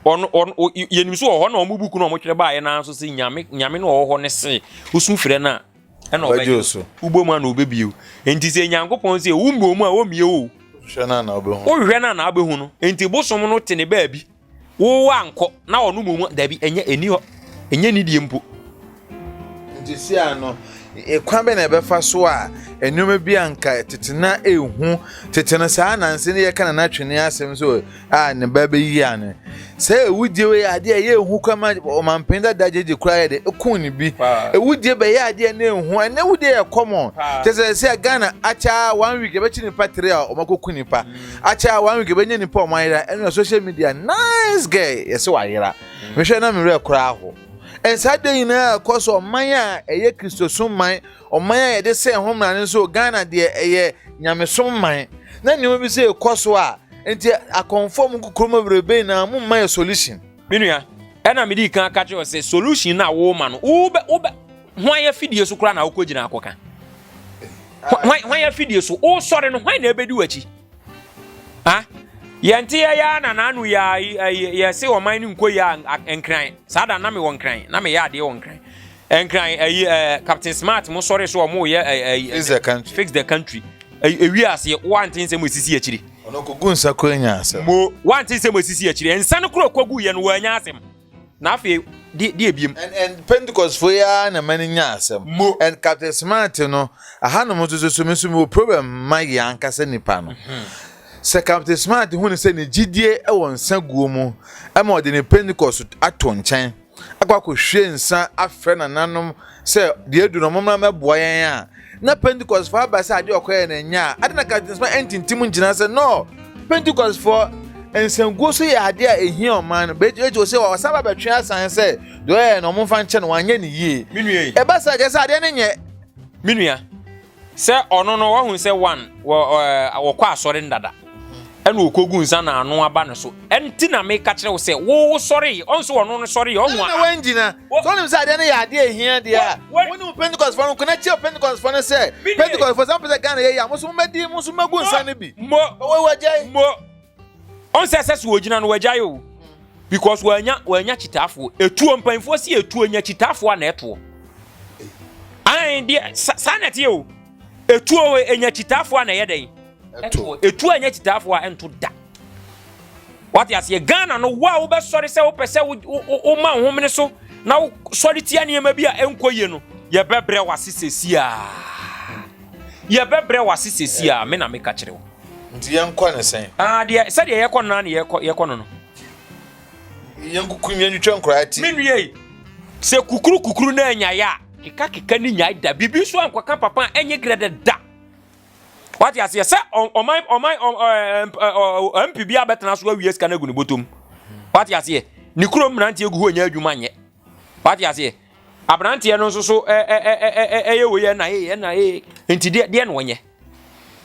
Ɔno ɔno yɛnim so wɔ hɔ na wɔn buku na wɔtwerɛ baeɛ naa nso sɛ Nyame Nyame no wɔ hɔ ne se wosu frɛ no a ɛna ɔbɛgye so. Wobɔ mu a na ɔbɛbie o. Enti sɛ Nyankopɔn sɛ wommɔ mu a ɔmmie o. Wohwɛ no a na
wobɛhu. Wohwɛ no a na wobɛhu
no. Enti bosom no te ne baabi. wo wankɔ na ɔno mu mu dabi ɛnyɛ ɛni hɔ ɛnyɛ nidie mpo nti
si ano kwan bɛ na ɛbɛfa so a nneɛma bi a nka tete na ehu tete no saa nanse ne yɛka na n'atwene asɛm so a ne ba bɛyi ano sɛ ewudie wei adeɛ ɛyɛ ehu kwan ma ɔmampɛn dada gyegye kura yɛ de ekun ne bi ewudie bɛyɛ adeɛ ne ehu ɛnɛ ewudie yɛ kɔmɔ kyɛ sɛ sɛ ghana akyɛ one week yɛbɛkyi nipa tiri a ɔmakɔku nipa Akyɛ a one week bɛnya nipa a ɔmo ayera ɛno na social media nice girl yɛsɛ wayera mm. mehwɛ na mewerɛ koraa ho ɛnsaa de nyinaa ɛkɔ so ɔman a ɛyɛ kristosom man ɔman a yɛde sɛ ho mmara no nso ghana deɛ ɛyɛ nyamesom man na nneɛma bi sɛ ɛkɔ so a nti akɔnfɔ mu kokoro mu bebrebe na mo mma yɛ solution. me nua
ɛna mede kan aka kyerɛ sɛ solution na wo ma no wo bɛ wo bɛ Hwan afidie so koraa na wokɔgyina akɔka? Hwan afidie so? Wosɔre no, hwan na ɛbɛdi w'akyi? Ha? Yɛnte yɛyɛ a na naano yɛse ɔman no nkɔ yi a nkran. Saa da na mewɔ nkran, na meyɛ adeɛ wɔ nkran. Nkran, ayi, eh, Captain Smart mo sɔre so ɔmo yɛ ayi. Fix the country. Fix the country. Ewi aseɛ, wante nsɛm esisi akyiri. Ɔno kogu nsa kura
nya asɛm. Mo, wante nsɛm
esisi akyiri. Nsa no kura kogu yɛ no wɔ anya asɛm. Na afei, de, deɛ biem? And, and Pentecostfoɔ
yi ara na mani nya asɛm. Mo. And Captain Smart no, ahanom nso so, so me nso mewɔ problem ma yɛn ankasa nipa no. Mm-hmm. Sɛ Captain Smart hu ne sɛ ne gyidie wɔ nsa guo mu, ɛma ɔde ne Pentecost ato nkyɛn, akɔ akɔhwie nsa afrɛ nananom sɛ deɛ adu no ɔmommra mmɛboa yɛn a, Na Pentekostfo aba sɛ ade a ɔkɔyɛe no nyɛ a, adɛn na Captain Smart antintim ngyina sɛ no? Pentekostfo nsankuo so yɛ ade a ehia ɔman no. Bɛgye akyi sɛ ɔsan ba bɛtwe asan sɛ deɛ ɔyɛeɛ no wɔmfa nkyɛ no, wanyɛ no yie. Me nua yi. Ɛba saa a, kyerɛ
sɛ adeɛ no
nyɛ. Me nua.
Sɛ ɔno no, wahu sɛ one, wɔ, ɔɛ, wɔkɔ asɔre no dada. ɛna ɔkɔgu nsa na ano aba ne so. Ɛnti na meka kyerɛ wo sɛ, wo wo sɔree. Ɔhu sɛ ɔno no sɔree. Ɔhu a. Ɛna wangyina. So
wonim sɛ adeɛ no yɛ adeɛ a ɛhia deɛ a, wo ne wo Pentecostfoɔ no ko na kyia Pentecostfoɔ no sɛ, Pentecostfoɔ, sɛ mopɛ sɛ Ghana yɛ yie a, mo nso mommɛdi, mo nso mommɛgu nsa no bi. Mo, mo, wagyae.
Mo, ɔn sɛ sɛ so wɔgyina no wagyae o. Because wanya, wanya kyitaafoɔ. Ɛtuo, mpanimfoɔ si ɛtuo nya kyitaafoɔ a na ɛtoɔ. Ae deɛ, saa na ɛteɛ o. Ɛtuo nya kyitaafoɔ a na ɛyɛ dɛn. to. Etu a ɛnyɛ kyitaafo a ɛnto da. Wate aseɛ Ghana no wo a wobɛsɔre sɛ wopɛ sɛ woma wo homene so na wosɔre tia nneɛma bi a ɛnkɔ yie no yɛbɛbrɛ wase sɛsi a yɛbɛbrɛ wase sɛsi a me na meka kyerɛ wo nti yɛnkɔ ne
sɛn ah, deɛ sɛdeɛ yɛkɔ no
na ne yɛkɔ yɛkɔ no no yɛnkukum
yɛntwitwa nkoraa ti menwie
sɛ kukuru kukuru na anyaeɛ a kekakeka ne nyae da biribi so ankɔka papa a ɛnyɛ grɛdɛ da Wate aseɛ sɛ ɔman ɔman MP bi abɛtena so awie sika no agu ne bɔtɔm. Wate aseɛ ne kurom mmeranteɛ gu hɔ nyɛ adwuma nyɛ. Wate aseɛ aberanteɛ no nso so ɛyɛ wei ɛna ee ɛna ee nti deɛ deɛ na ɔnyɛ.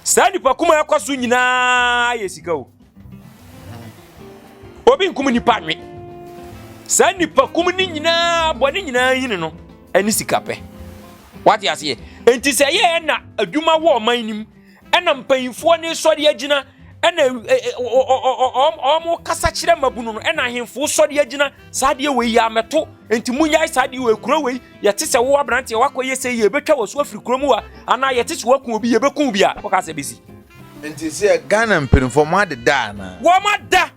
Saa nipa kuma ɛkɔ so nyinaa yɛ sika o. obi nkum nipa nwe saa nipa kum ne nyinaa bɔ ne nyinaa yini no ɛne sika pɛ wate aseɛ nti sɛ yɛ ɛna adwuma wɔ ɔman nim ɛna mpanyinfoɔ ne sɔre agyina ɛna ɔmo kasa kyerɛ mabunu no ɛna ahemfo sɔre agyina saa deɛ wei yɛ amɛto nti mu nyae saa deɛ wei kuro wei yɛte sɛ wo aberanteɛ wakɔ yɛ sɛ yɛ ebɛtwa wɔ so afiri kuro mu wa anaa yɛte sɛ wakun obi yɛbɛkun obi a wɔka sɛ bɛsi Nti sɛ
Ghana mpaninfoɔ ɔmo adeda anaa? Wɔn ada.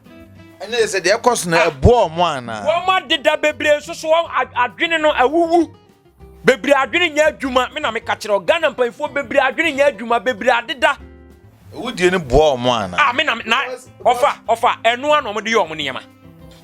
Ɛne sɛ deɛ
ɛkɔ so no ɛboa ɔmo anaa? Wɔn adeda bebree
nso so wɔn adwene no awuwu. Bebree adwene nyɛ adwuma me na meka kyerɛ Ghana mpaninfoɔ bebree adwene nyɛ adwuma bebree adeda. Awudie no
boa ɔmo anaa? Ah me na na
ɔfa ɔfa ɛnoa na ɔmo de yɛ ɔmo nneɛma.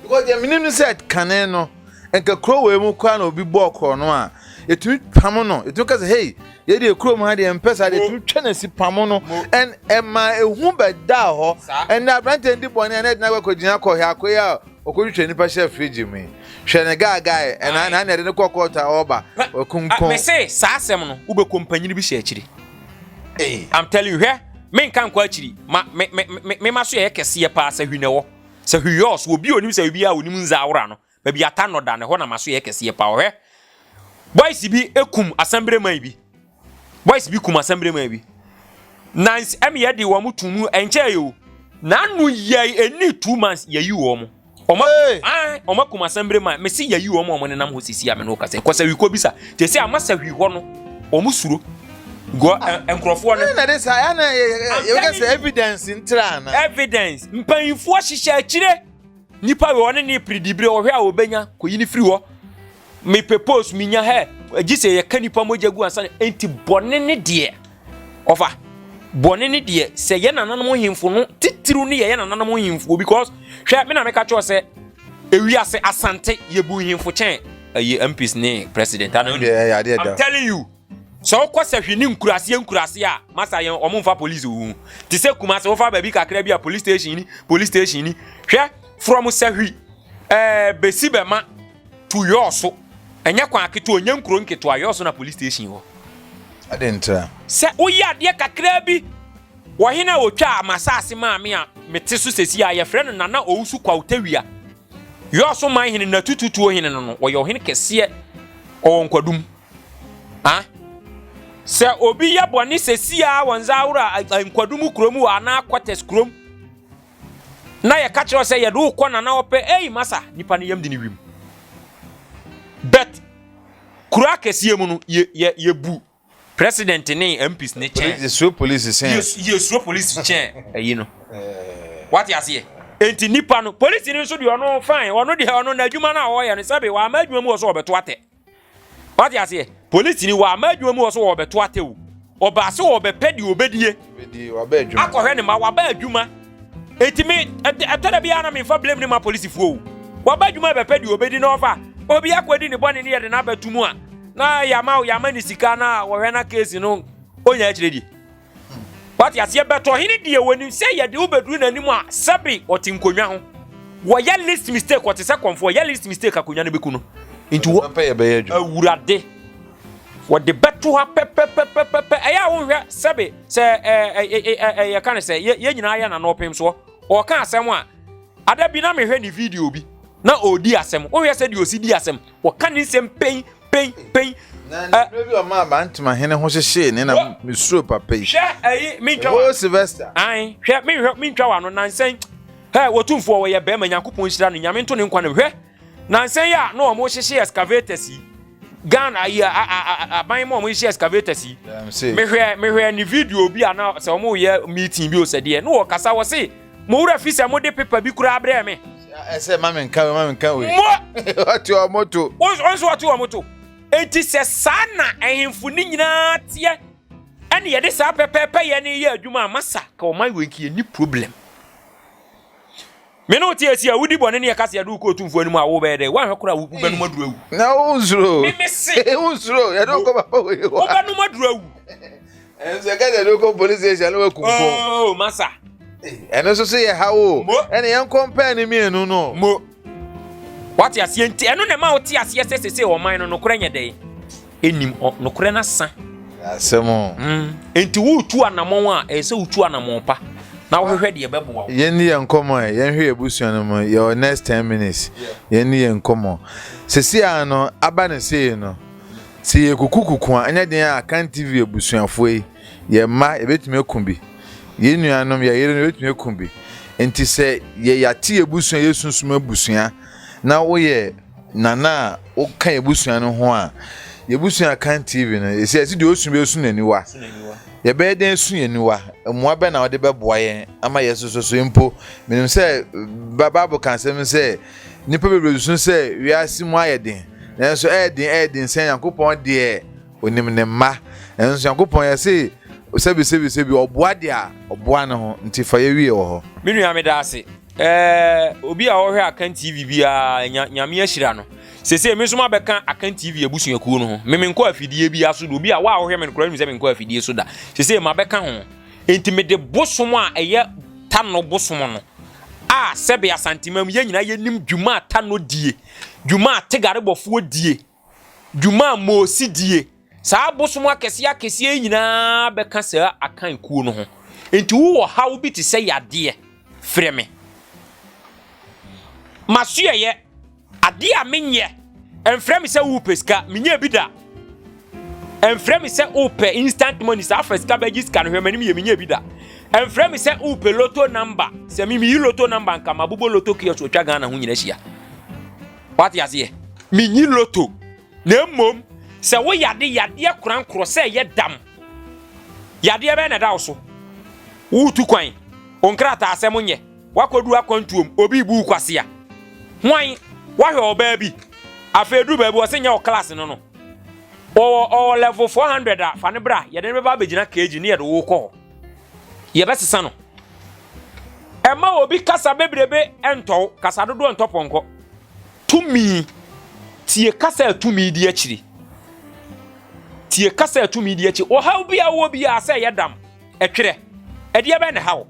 Because deɛ menim
no sɛ kane no nka kuro wei mu koraa na obi bɔɔ korɔ no a yɛtumi pamo no yɛtumi ka sɛ hei yɛdeɛ kurom ha deɛ mpɛ saa deɛ yɛtumi twa no asi pamo no ɛn ɛma ehu bɛdaa hɔ ɛnna aberanteɛ ndi bɔne a na ɛdena akɔgyina kɔhwɛ akoe a ɔkɔtwitwa nnipa hyɛ firigye mu yi hwɛ ne gaagae ɛna na na ɛde ne kɔ kɔɔto a ɔba ɔkunkun mese saa asɛm
no wobɛkɔ mpanyini bi hyɛ akyiri I'm telling you hwɛ menka nkɔ akyiri ma me me me ma so yɛ kɛseɛ paa sɛ hwi na ɛwɔ Sɛ hwiɔs, obi a onim sɛ obi a onim ndze awora no, baabi a ata no da no, hɔ na m'aso yɛ kɛseɛ paa. Ɔhwɛ, boys bi kum asɛmbreman bi, boys bi kum asɛmbreman bi, na ɛmeyɛ de wɔn tum mu ɛnkyɛɛ o. N'ano yɛi ɛni two months yɛyi wɔn. Wɔn akum asɛmbreman, mese yɛyi wɔn a wɔnenam hɔ sisi a me ne wo kasa yi, kɔ sahwi kɔbisa, te sɛ ama sahwi hɔ no, wɔn suro. nkurɔfoɔ no. na de saa ɛna
yɛbɛka sɛ evidence ntra ana. evidence mpanyinfoɔ
hyehyɛ akyire nipa wɔ ɔne ne piridibire ɔhwɛ a ɔbɛnya kɔyi ne firi hɔ mepɛ post menya hɛ gye sɛ yɛka nipa mogya gu ansa nti bɔne ne deɛ ɔfa bɔne ne deɛ sɛ yɛ nananom hemfo no titiriw ne yɛyɛ nananom hemfoɔ because hwɛ me na meka kyerɛ sɛ ewiase asante yɛbu hemfo kyɛn ɛyɛ mps ne president I'm telling you Sɛ wokɔ sahwi ne nkuraseɛ nkuraseɛ a masa yɛn ɔmo mfa police wo ho te sɛ kuma sɛ wofa baabi kakra bi a police station ni police station ni hwɛ from sahwi ɛɛ eh, bɛsi bɛma to yɔɔ so ɛnyɛ kwan aketewa ɔnyɛ nkuro nketewa yɔɔ so na police station wɔ ɛde ntra
sɛ woyɛ
adeɛ kakra bi wɔhene a wɔtwa a masaase maame a mete so sɛsi a yɛfrɛ no nana ɔwusu kwautawia yɔɔ so man hene na tututuo hene no no wɔyɛ ɔhene kɛseɛ ɔwɔ nkwadum Ah, sɛ obi yɛ bɔne sɛsi a wɔn nsa ahoro a nkwadum kurom wɔ anaa kɔtɛs kurom na yɛka kyerɛ sɛ yɛde wokɔ na na ɔpɛ ei masa nipa no yam de ne wim bet kuro akɛseɛ mu no yɛbu president ne mps ne kyɛn yɛsuro polisi kyɛn
yɛsuro polisi
kyɛn ayi no wate aseɛ enti nipa no polisi no nso deɛ ɔno fine ɔno deɛ ɔno n'adwuma no a ɔyɛ no sɛbe wɔama adwuma mu wɔ so ɔbɛto atɛ wate aseɛ polisi ni wɔama adwuma mu wɔ so wɔbɛto atɛwu ɔbaa sɛ wɔbɛpɛ deɛ ɔbɛdie
akɔhwɛ ne ma waba adwuma
ɛti me ɛtɔ da biara na memfa blame ne ma polisifoɔ o waba adwuma bɛpɛ deɛ ɔbɛdi na ɔfa obi akɔdi ne bɔne ne yɛde no abɛto mu a na yɛama yɛama ne sika na wɔhwɛ na case no ɔnya akyerɛ die wate aseɛ bɛtɔ ɔhene deɛ wɔnim sɛ yɛde wo bɛduru n'anim a sɛbe ɔte nkonnwa ho wɔyɛ list mistake ɔte sɛ kɔmfo ɔyɛ list mistake akonnwa no bɛku no nti
awurade
wɔde bɛto ha pɛpɛpɛpɛpɛ ɛyɛ a wonhwɛ sɛbe sɛ yɛka no sɛ yɛ nyinaa yɛ nano ɔpem soɔ ɔka asɛm a ada bi na mehwɛ ne video bi na ɔdi asɛm wonhwɛ sɛ deɛ ɔsi di asɛm wɔka ne nsɛm pɛn Pɛn, pɛn. Na ne
mmerɛ bi ɔmaa Bantama hene ho hyehyee ne na mesuro papa yi. Hwɛ ɛyi mentwa wa.
Sylvester. Ae,
hwɛ menhwɛ
mentwa wa no nansɛn. Hɛ, wɔtumfoɔ wɔyɛ bɛrima Nyankopɔn nhyira no Nyame nto ne nkwa no hwɛ. Nansɛn yi a na wɔn hyehye excavators yi. Ghana ayi aban mu wɔn hyehye excavators yi. Mehwɛ mehwɛ ne video bi a na sɛ wɔn yɛ meeting bi o sɛ deɛ no wɔkasa wɔ se. Mo wura fi sɛ mode pepa bi koraa brɛɛ me. Ɛsɛ ma menka
wei ma menka wei. Mo. Ɔte wɔn to. Wɔn nso ɔte wɔn to.
Enti sɛ saa na ahemfo ne nyinaa teɛ ɛne yɛde saa pɛpɛɛpɛ yɛ ne yɛ adwuma a masa ka ɔman wei nki ni problem. Mene wote asi a wodi bɔne ne ɛka sɛ yɛde wokɔ otumfoɔ anim a wobɛyɛ dɛ woanhwɛ kora wobɛnom aduru awu. Na wonsuro. Meme
se.
Wonsuro yɛde wokɔ
papa wei hɔ. Wobɛnom aduru awu.
ɛnso
ɛka sɛ de wokɔ police station na waku nko oh, masa
ɛno nso
so yɛ ha wo ɛne yɛnkɔ mpɛɛ no mmienu no mo
wate aseɛ nti ɛno na ɛma wote aseɛ sɛ sese ɔman no nokorɛ nyɛ dɛn ɛnim nokorɛ no asa asɛm
mm. nti
woretu anammɔn a ɛyɛ sɛ wotu anammɔn pa na wohwehwɛ deɛ ɛbɛboa wo yɛnni yɛn nkɔmmɔ ɛ
yɛnhwɛ yɛ abusua no mu yɛwɔ next 10 minutes yɛnni yɛn nkɔmmɔ sesi a no aba ne sei no Sɛ yɛkukukuku a, ɛnyɛ den a Kan TV abusuafoɔ yi, yɛn mma, yɛbɛtumi aku bi. Yɛn nuanom, yɛn yerenom, yɛbɛtumi aku bi. Nti sɛ yɛ yɛate yɛn abusua, yɛ sunsum abusua, na woyɛ nana a woka yɛn abusua no ho a, yɛn abusua a Kan TV no, ɛsɛ ɛsɛ deɛ ɔsu bi ɛsu n'aniwa. Yɛbɛyɛ dɛn asu yɛn aniwa? Mmoa bɛn na wode bɛboa yɛn ama yɛn soso so mpo? Menim sɛ Bible ka asɛm sɛ Nnipa bebree susu sɛ wiase mu ayɛ den, nanso ɛyɛ den ɛyɛ den sɛ Nyankopɔn deɛ onim ne mma. Nanso Nyankopɔn yɛse sɛbi sɛbi sɛbi ɔboa deɛ ɔboa ne ho nti fa yɛ wie wɔ hɔ. Me nua meda ase
eh, obi a ɔhwɛ Akan TV biara nya, nyame ahyira no. Sese me nso mabɛka Akan TV abusuakuo no ho. Me menkɔ afidie biara so da, obi a wa a wohwɛ me no koraa nim sɛ menkɔ afidie so da. Sese mabɛka ho. Enti mede bosom a ɛyɛ Tanno bosom no, a sɛbe Asanteman mu yɛn nyinaa yɛnim dwuma a Tanno die, dwuma a Tegarebɔfoɔ die, dwuma a Moosi die, saa abosom akɛseɛ akɛseɛ yi nyinaa bɛka saa Akan kuo no ho. Enti wowɔ haw bi te sɛ yadeɛ, frɛ me. M'asoɛeɛ Ade a menyɛ. Ɛmfrɛ me sɛ wopɛ sika, menyɛ bi da. Ɛmfrɛ me sɛ wopɛ instant money, saa fa sika bɛgye sika no hwɛ m'anim yɛ, menyɛ bi da. Ɛmfrɛ me sɛ wopɛ loto number, sɛ me meyi loto number nka mabobɔ loto kiosk otwa Ghana ho nyina hyia. Wate aseɛ? Menyi loto. Na mmom, sɛ wo yade yadeɛ korankorɔ sɛ ɛyɛ dam, yadeɛ bɛyɛ na ɛda wo so, woretu kwan, wo nkrataa asɛm nyɛ, wakɔdu akwantuom, obi bu kwasea, hwan, wahwɛ ɔbaa bi, afei duru baabi ɔsɛ nyɛ wɔ class no no, ɔwɔ ɔwɔ level 400 a, fa no bra, yɛde no bɛba abɛgyina kg ne yɛde wo kɔ hɔ, yɛbɛsesa no. Ɛma obi kasa bebrebe ntɔw, kasa dodoɔ ntɔ pɔnkɔ. Tumi. Tie kasa a tumi di akyiri. Tie kasa a tumi di akyi. Ɔhaw bi a wɔ biara sɛ ɛyɛ dam, ɛtwerɛ. Ɛdeɛ bɛn ne haw?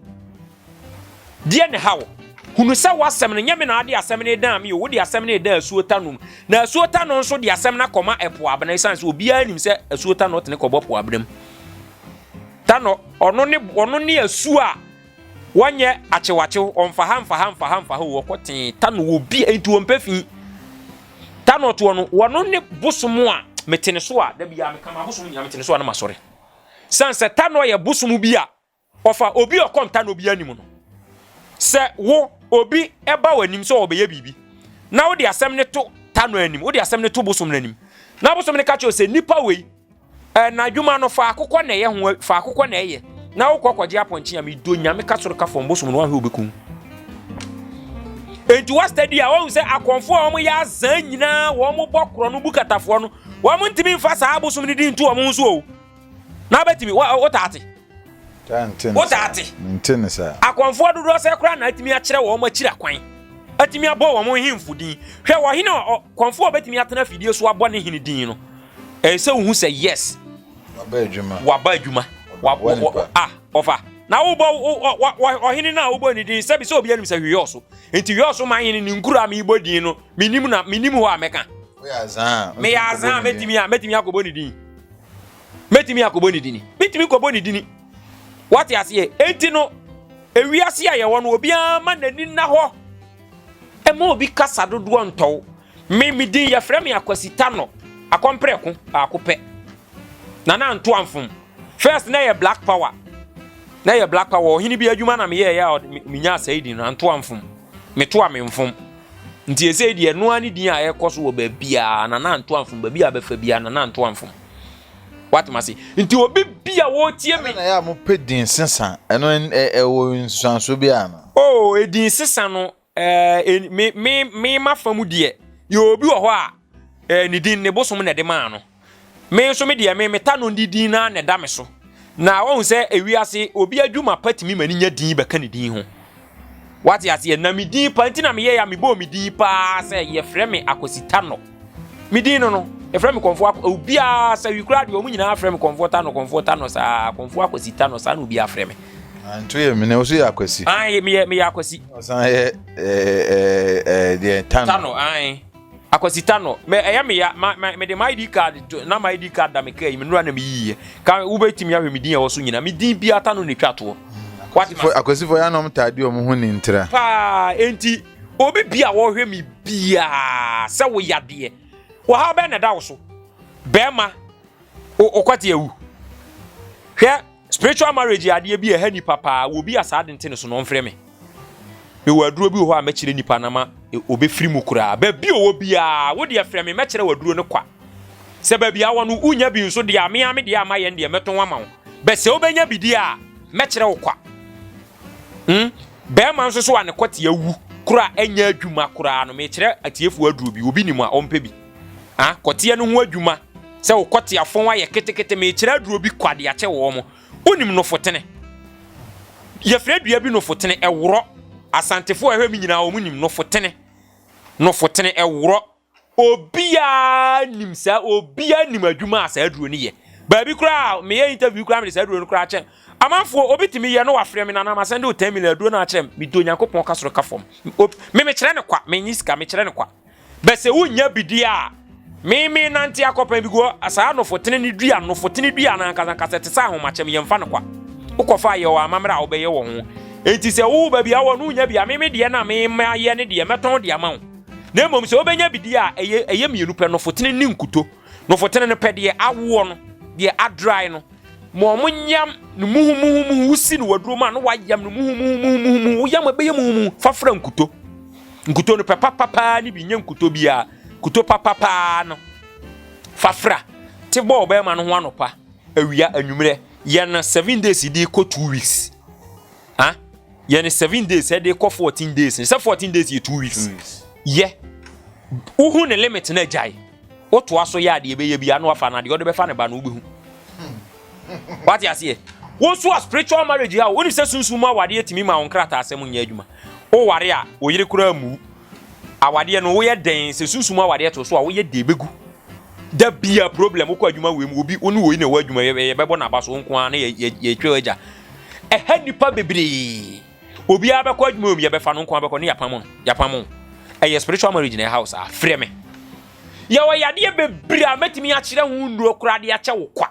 Deɛ ne haw? Hunu sɛ w'asɛm no, nyɛ me na ade asɛm no dan me o, wode asɛm no dan asuo ta nom. Na asuo ta no nso de asɛm no akɔma ɛpo abena, ɛsiane sɛ obiara nim sɛ asuo ta no tene kɔbɔ po abena mu. Ta no, ɔno ne, ɔno ne asuo a Wɔnyɛ akyewakyew, wɔmfa ha mfa ha mfa ha mfa ha o, wɔkɔ tee ta no wɔ bi nti wɔmpɛ fi. Ta no ɔtoɔ no, wɔno ne bosom a mete ne so a, da biara meka ma bosom nyinaa mete ne so a na masɔre. Sane sɛ ta no yɛ bosom bi a, ɔfa obi ɔkɔm ta no obi anim no. Sɛ wo obi ɛba w'anim sɛ ɔbɛyɛ biribi, na wode asɛm ne to ta no anim, wode asɛm ne to bosom no anim, na bosom no ka kyerɛ sɛ nipa wei Eh, n'adwuma no faako kɔ na ɛyɛ ho faako kɔ na ɛyɛ na wokɔ kɔgye apɔnkye a medo nyame ka soro ka fam bosom no wahwɛ wobɛkum enti wastadi a wɔhu sɛ akɔmfoɔ a wɔyɛ azaa nyinaa wɔn bɔ korɔ no bu katafoɔ no wɔn ntumi mfa saa bosom no di nto wɔn ho so o na wobɛtumi wotaate Wotaa
te? Akɔmfoɔ dodoɔ sɛɛ koraa
na atumi akyerɛ wɔn akyira kwan, atumi abɔ wɔn nhemfo din. Hwɛ wɔ hene a ɔkɔmfoɔ a ɔbɛtumi atena afidie so abɔ ne hene din no. Ɛyɛ sɛ wohu sɛ yes, waba adwuma, waba adwuma, wabɔ nipa a ɔfa na wobɔ ɔhene no a wobɔ ne din sɛbi sɛ obi anim sɛ hweyɛ ɔso nti hweyɛ ɔso ma hene ne nkuro a mebɔ din no menim na menim hɔ a mɛka
meyɛ azan a mɛtumi
a mɛtumi akɔbɔ ne din mɛtumi akɔbɔ ne dini mɛtumi kɔbɔ ne dini wate aseɛ enti no ewiase a yɛwɔ no obiara ma n'ani nna hɔ ɛma obi kasa dodoɔ ntɔw me me din yɛfrɛ me akwasita no akɔmprɛko baako pɛ na na nto amfom first na yɛ black power na yɛ black power ɔhene bi adwuma na meyɛ yɛ a menya asɛe din no anto amfom meto a memfom nti ɛsɛ deɛ noa ne din a ɛkɔ so wɔ baabiara na na nto amfom baabi a bɛfa biara na na nto amfom woatem ase nti obi bi a wɔretie me. ɛna yɛ a mopɛ din sesa ɛno ɛwɔ nsusuanso bi a no. oo oh, edin sesa no ɛɛ me me me ma fa mu deɛ yɛ obi wɔ hɔ a ɛɛ ne din ne bosom na ɛde maa no me nso me deɛ me meta no ne din na na ɛda me so na wɔn sɛ ewiase obi adwuma pa tumi ma ne nya din bɛka ne din ho Wate aseɛ? Na me din pa nti na meyɛɛ a mebɔɔ me din paa sɛ yɛfrɛ me Akwasi Tanɔ. Me din no no, yɛfrɛ me kɔmfoɔ akɔ obiara sɛ wi koraa deɛ wɔn nyinaa frɛ me kɔmfoɔ Tanɔ kɔmfoɔ Tanɔ saa kɔmfoɔ Akwasi Tanɔ saa na obiara frɛ me. Nto yɛ mene
woso yɛ akwasi. Ayi meyɛ meyɛ akwasi.
Ɔsan yɛ
ɛɛ ɛɛ deɛ tano. Tano ayi. Akwasita
no, me ɛyɛ me ya ma me de my ID card to na my ID card da me kaa yi me nura na me yiye. Ka wobɛtumi ahwɛ me din a ɛwɔ so nyina. Me din bi ata no na etwa toɔ. Akwasifo akwasifo
ya nom taa di wɔn ho ni ntira. Paa enti
obi bi a wɔhwɛ me biaa sɛ wo yadeɛ wɔhaw bɛn na ɛda wo so bɛrima okwati awu hwɛ. Spiritual marriage yɛ adeɛ bi a ɛha nipa paa, wɔ bi a saa de nte ne so na ɔmfrɛ me. Mewɔ aduro bi wɔ hɔ a mɛkyerɛ nipa na ma ɔbɛfiri mu koraa. Baabi ɔwɔ biara, wo deɛ frɛ me mɛkyerɛ wɔ aduro no kwa. Sɛ baabi awɔ no wonya bi nso deɛ a mea me deɛ a mayɛ deɛ mɛtɔn wama wo. Bɛ sɛ wobɛnya bi deɛ a mɛkyerɛ wo kwa. Hmm? Bɛrima nso so a ne kɔte awu koraa ɛnyɛ adwuma koraa no mekyerɛ atiefoɔ aduro bi, obi nim a ɔmpɛ bi. Ah, kɔteɛ no ho adwuma sɛ wo kɔteafɔn ayɛ ketekete mekyerɛ aduro bi kɔ ade akyɛ wɔn wonim nofotene yɛfrɛ dua bi nofotene ɛworɔ asantefoɔ ɛhwɛ me nyinaa wɔn nim nofotene nofotene ɛworɔ obiara nim saa obiara nim adwuma a saa aduro no yɛ baabi koraa meyɛ interview koraa mede saa aduro no koraa kyɛ amanfoɔ obi tumi yɛ no wafrɛ me nanam asɛn de wo 10 million aduro no akyerɛ me medɔ onyankopɔn ka soro ka fam me mekyerɛ no kwa menyi sika mekyerɛ no kwa Bɛ se wonnya bi di a, me menante akɔpɛn bi guɔ saa anofotene no dua no. Nofotene dua no ankasa ankasa te sɛ ahomakyem, yɛmfa no kwa. Wokɔfa a, yɛ wɔ amammerɛ a wobɛyɛ wɔ ho. Enti sɛ wo baabi a wowɔ no wonnya bi a, me me deɛ no a me mayɛ no deɛ, mɛtɔn de ama wo. Na mmom sɛ wobɛnya bi di a, ɛyɛ ɛyɛ mmienu pɛ, nofotene ne nkuto. Nofotene no pɛ deɛ awoɔ no, deɛ adry no, ma wɔyam no muhumuhumuhu, wosi no waduro mu a na wɔayam no muhumuhumuhu, woyam a ɛbɛyɛ muhumuhu fa fra nkuto. Nkuto no pɛ papapaa no bi, nyɛ nkuto biara, kuto papapaa no fa fra. Te bɔ ɔbɛrima no ho anɔpa, awia, anwummerɛ, yɛ no seven days di kɔ two weeks. ah yɛ ne seven days ɛde kɔ fourteen days sɛ fourteen days yɛ two weeks yɛ wohu ne limit na agyae wotoa so yɛ adeɛ bɛyɛ bi ano afa no adeɛ ɔde bɛfa ne ba no wobɛhu wate aseɛ wo nso a spiritual marriage a wonim sɛ sunsum mu awadeɛ tumi ma wo nkrataa asɛm nyɛ adwuma woware a oyere koraa mu Awadeɛ no woyɛ dɛn sɛ sunsum awadeɛ to so a woyɛ dɛn bɛgu da bia problem wokɔ adwuma wei mu obi wo ne wei na ɛwɔ adwuma yɛbɛbɔ n'aba so nko ara na yɛtwa agya ɛha nnipa bebree obiara bɛkɔ adwuma wei mu yɛbɛfa no nko ara bɛkɔ ne yɛapam no yɛapam ɛyɛ spiritual marriage na ɛha wo saa frɛ me yɛwɔ yadeɛ bebree a mɛtumi akyerɛ ho nnuro koraa de akyɛ wo kwa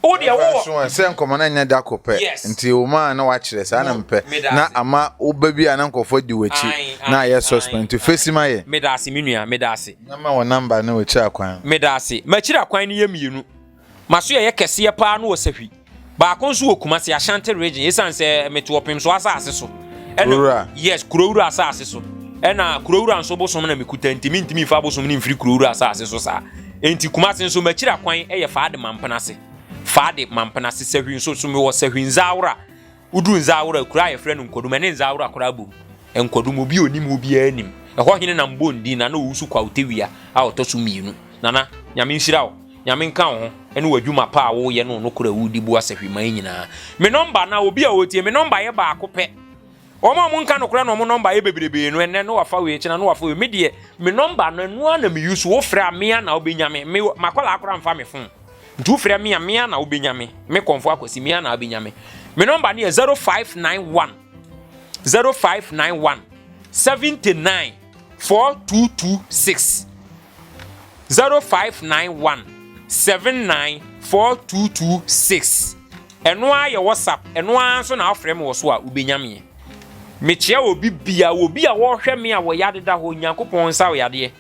Wo deɛ wowɔ. Ɛmfa nso sɛ nkɔmmɔ no anyɛ da
koro pɛ nti wo maa na wakyerɛ saa na mepɛ na ama woba bi a na nkurɔfoɔ adi w'akyi na ayɛ suspend nti face ma yɛn. Medaase me nua, medaase.
Na ma wo number ne
w'akyira kwan. Medaase. M'akyira
kwan no yɛ mmienu. M'aso ɛyɛ kɛseɛ paa no wɔ Sahwi. Baako nso wɔ Kumasi, Ashanti region, ɛsiane sɛ mete Ɔpemsoɔ asaase so. Kurowura. Yes, Kurowura asaase so. Ɛna Kurowura nso bosom na mekuta nti mentumi mfa abosom no mfiri Kurowura asaase so saa. Enti Kumase nso m'akyira kwan yɛ Faade Mampenase, Faade Mampenase Sahwi nso so mewɔ Sahwi Nzaawora, woduru Nzaawora kuro a yɛfrɛ no Nkwadum ɛne Nzaawora koraa bom, Nkwadum obi onim hɔ obiara nim, ɛhɔ hene na mbɔ ndin Nana Owusu Kwawutewia a ɔtɔ so mmienu, Nana Nyame nhyira wo, Nyame nka wo ho ɛne w'adwuma pa a woyɛ ne wo nokorɛ a wodi boa Sahwiman nyinaa. Me nɔmba anaa obi a ɔretie me nɔmba yɛ baako pɛ. Wɔn a wɔnka nokorɛ na wɔn nɔmba yɛ bebrebee no, ɛnnɛ na wɔafa wei, ɛkyena na wɔafa wei. Me deɛ, me nɔmba no, ɛno ara na me use. Wofrɛ a, me ara na wobɛnya me. Me, m'akwadaa koraa mfa me fon. Nti wofrɛ me a, me ara na wobɛnya me. Me kɔmfo Akwasi, me ara na wobɛnya me. Me nɔmba no yɛ 0591 0591 79426. zero five nine one seven nine four two two six ɛno ara yɛ whatsapp ɛno ara nso na afrɛ me wɔ so a wobɛnya meɛ mekyerɛ obi bia obi a wɔhwɛ me a wɔyɛ adeda hɔ nyankopɔn nsa ɔyɛ adeɛ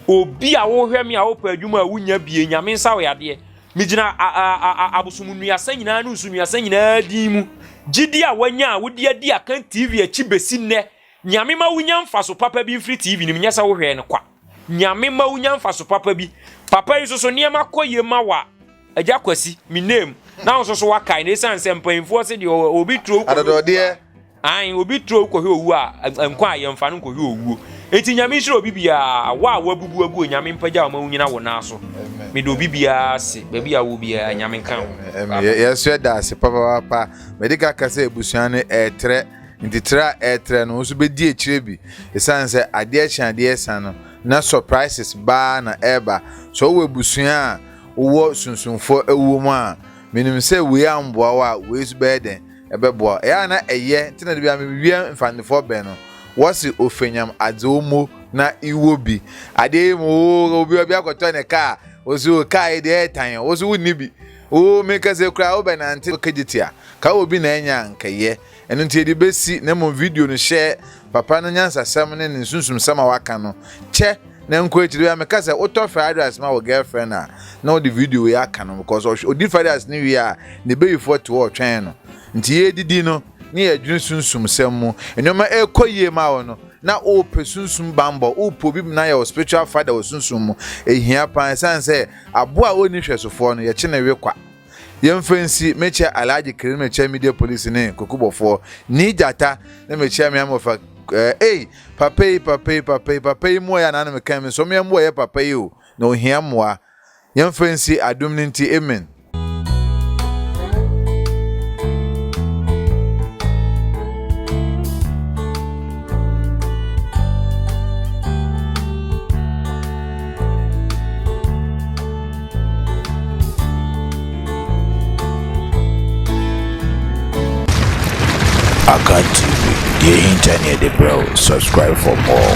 obi a wohwɛ me a wopɛ adwuma a wonya bie nyame nsa ɔyɛ adeɛ megyina abosom nnuasa nyinaa ne nsu nnuasa nyinaa din mu gyidi a wanya a wode adi akan tv akyi bɛsi nnɛ Nyame ma wunya mfaso papa bi mfiri TV no mu, nyɛ sɛ wohwɛɛ no kwa. Nyame ma wunya mfaso papa bi. Papa yi nso so nneɛma kɔ yie ma wa agya Kwasi, me name, na nso so wakae na ɛsiane sɛ mpanyinfoɔ se deɛ obi turo kɔhwɛ
an obi
turo kɔhwɛ owuo a nkwa a yɛmfa no nkɔhwɛ owuo. Enti nyame nhyira obi biara, wo a wabubu agu nyame mpagya ɔma wunyina wo nan so. Mede obi biara se baabi a wo biara nyame nka ho. Yɛsrɛ
daase papa papa. Mede ka ka sɛ abusua no ɛɛtrɛ. Nti tra a ɛretrɛ no wo nso bɛdi akyire bi ɛsiane sɛ adeɛ kye adeɛ ɛsa no na surprises baa na ɛreba sɛ wowɔ abusua a wowɔ sunsumfoɔ ɛwɔ mu a menim sɛ wei amboa wo a wei nso bɛyɛ dɛn ɛbɛboa wo ɛyɛ a na ɛyɛ nti na dabia mewie mfandefoɔ bɛ no wɔse ofenyam adze wo mo na iwɔ bi adeɛ yi mu wo obi obi akɔtɔ ne kaa wɔsi wo kaa yi deɛ ɛyɛ tan wo nso wonni bi O, meka sɛ koraa wobɛnante ɔka gyetia, ka wɔ bi na ɛnyɛ a anka yɛ. Ɛno nti yɛde bɛsi, na mmom video no hyɛ papa no nyansasɛm ne ne nsunsumsɛm a waka no kyɛ na nkɔ akyiri. Bia meka sɛ wotɔ fried rice ma wo girlfriend a na wode video wei aka no because ɔhwɛ ɔdi fried rice no wie a ne bayifoɔ te hɔ ɔtwɛn no nti yɛredidi no ne yɛredwene sunsumsɛm mu nnoɔma ɛrekɔ yie ma wo no na wopɛ sunsum bammɔ, wopɛ obi na yɛ wo spiritual father wɔ sunsum mu. Ɛhia paa ɛsiane sɛ Aboa a ɔnni hwɛsofoɔ no, yɛkye no we kwa. Yɛmfa nsi, mekyɛ Alhaji Kere ne mekyɛ Media Police ne Kokubɔfoɔ, Nii Gyata ne mekyɛ me amɔfa eh, ei, papa yi, papa yi, papa yi, papa yi mmoa yɛ anaa na mekɛn me nsɔmeɛ mmoa yɛ papa yi o, na ɔhia mmoa. Yɛmfa nsi, adom no nti, amen.
Akan TV, deɛ ɛhinta ne yɛde brɛ wo. Subscribe for more.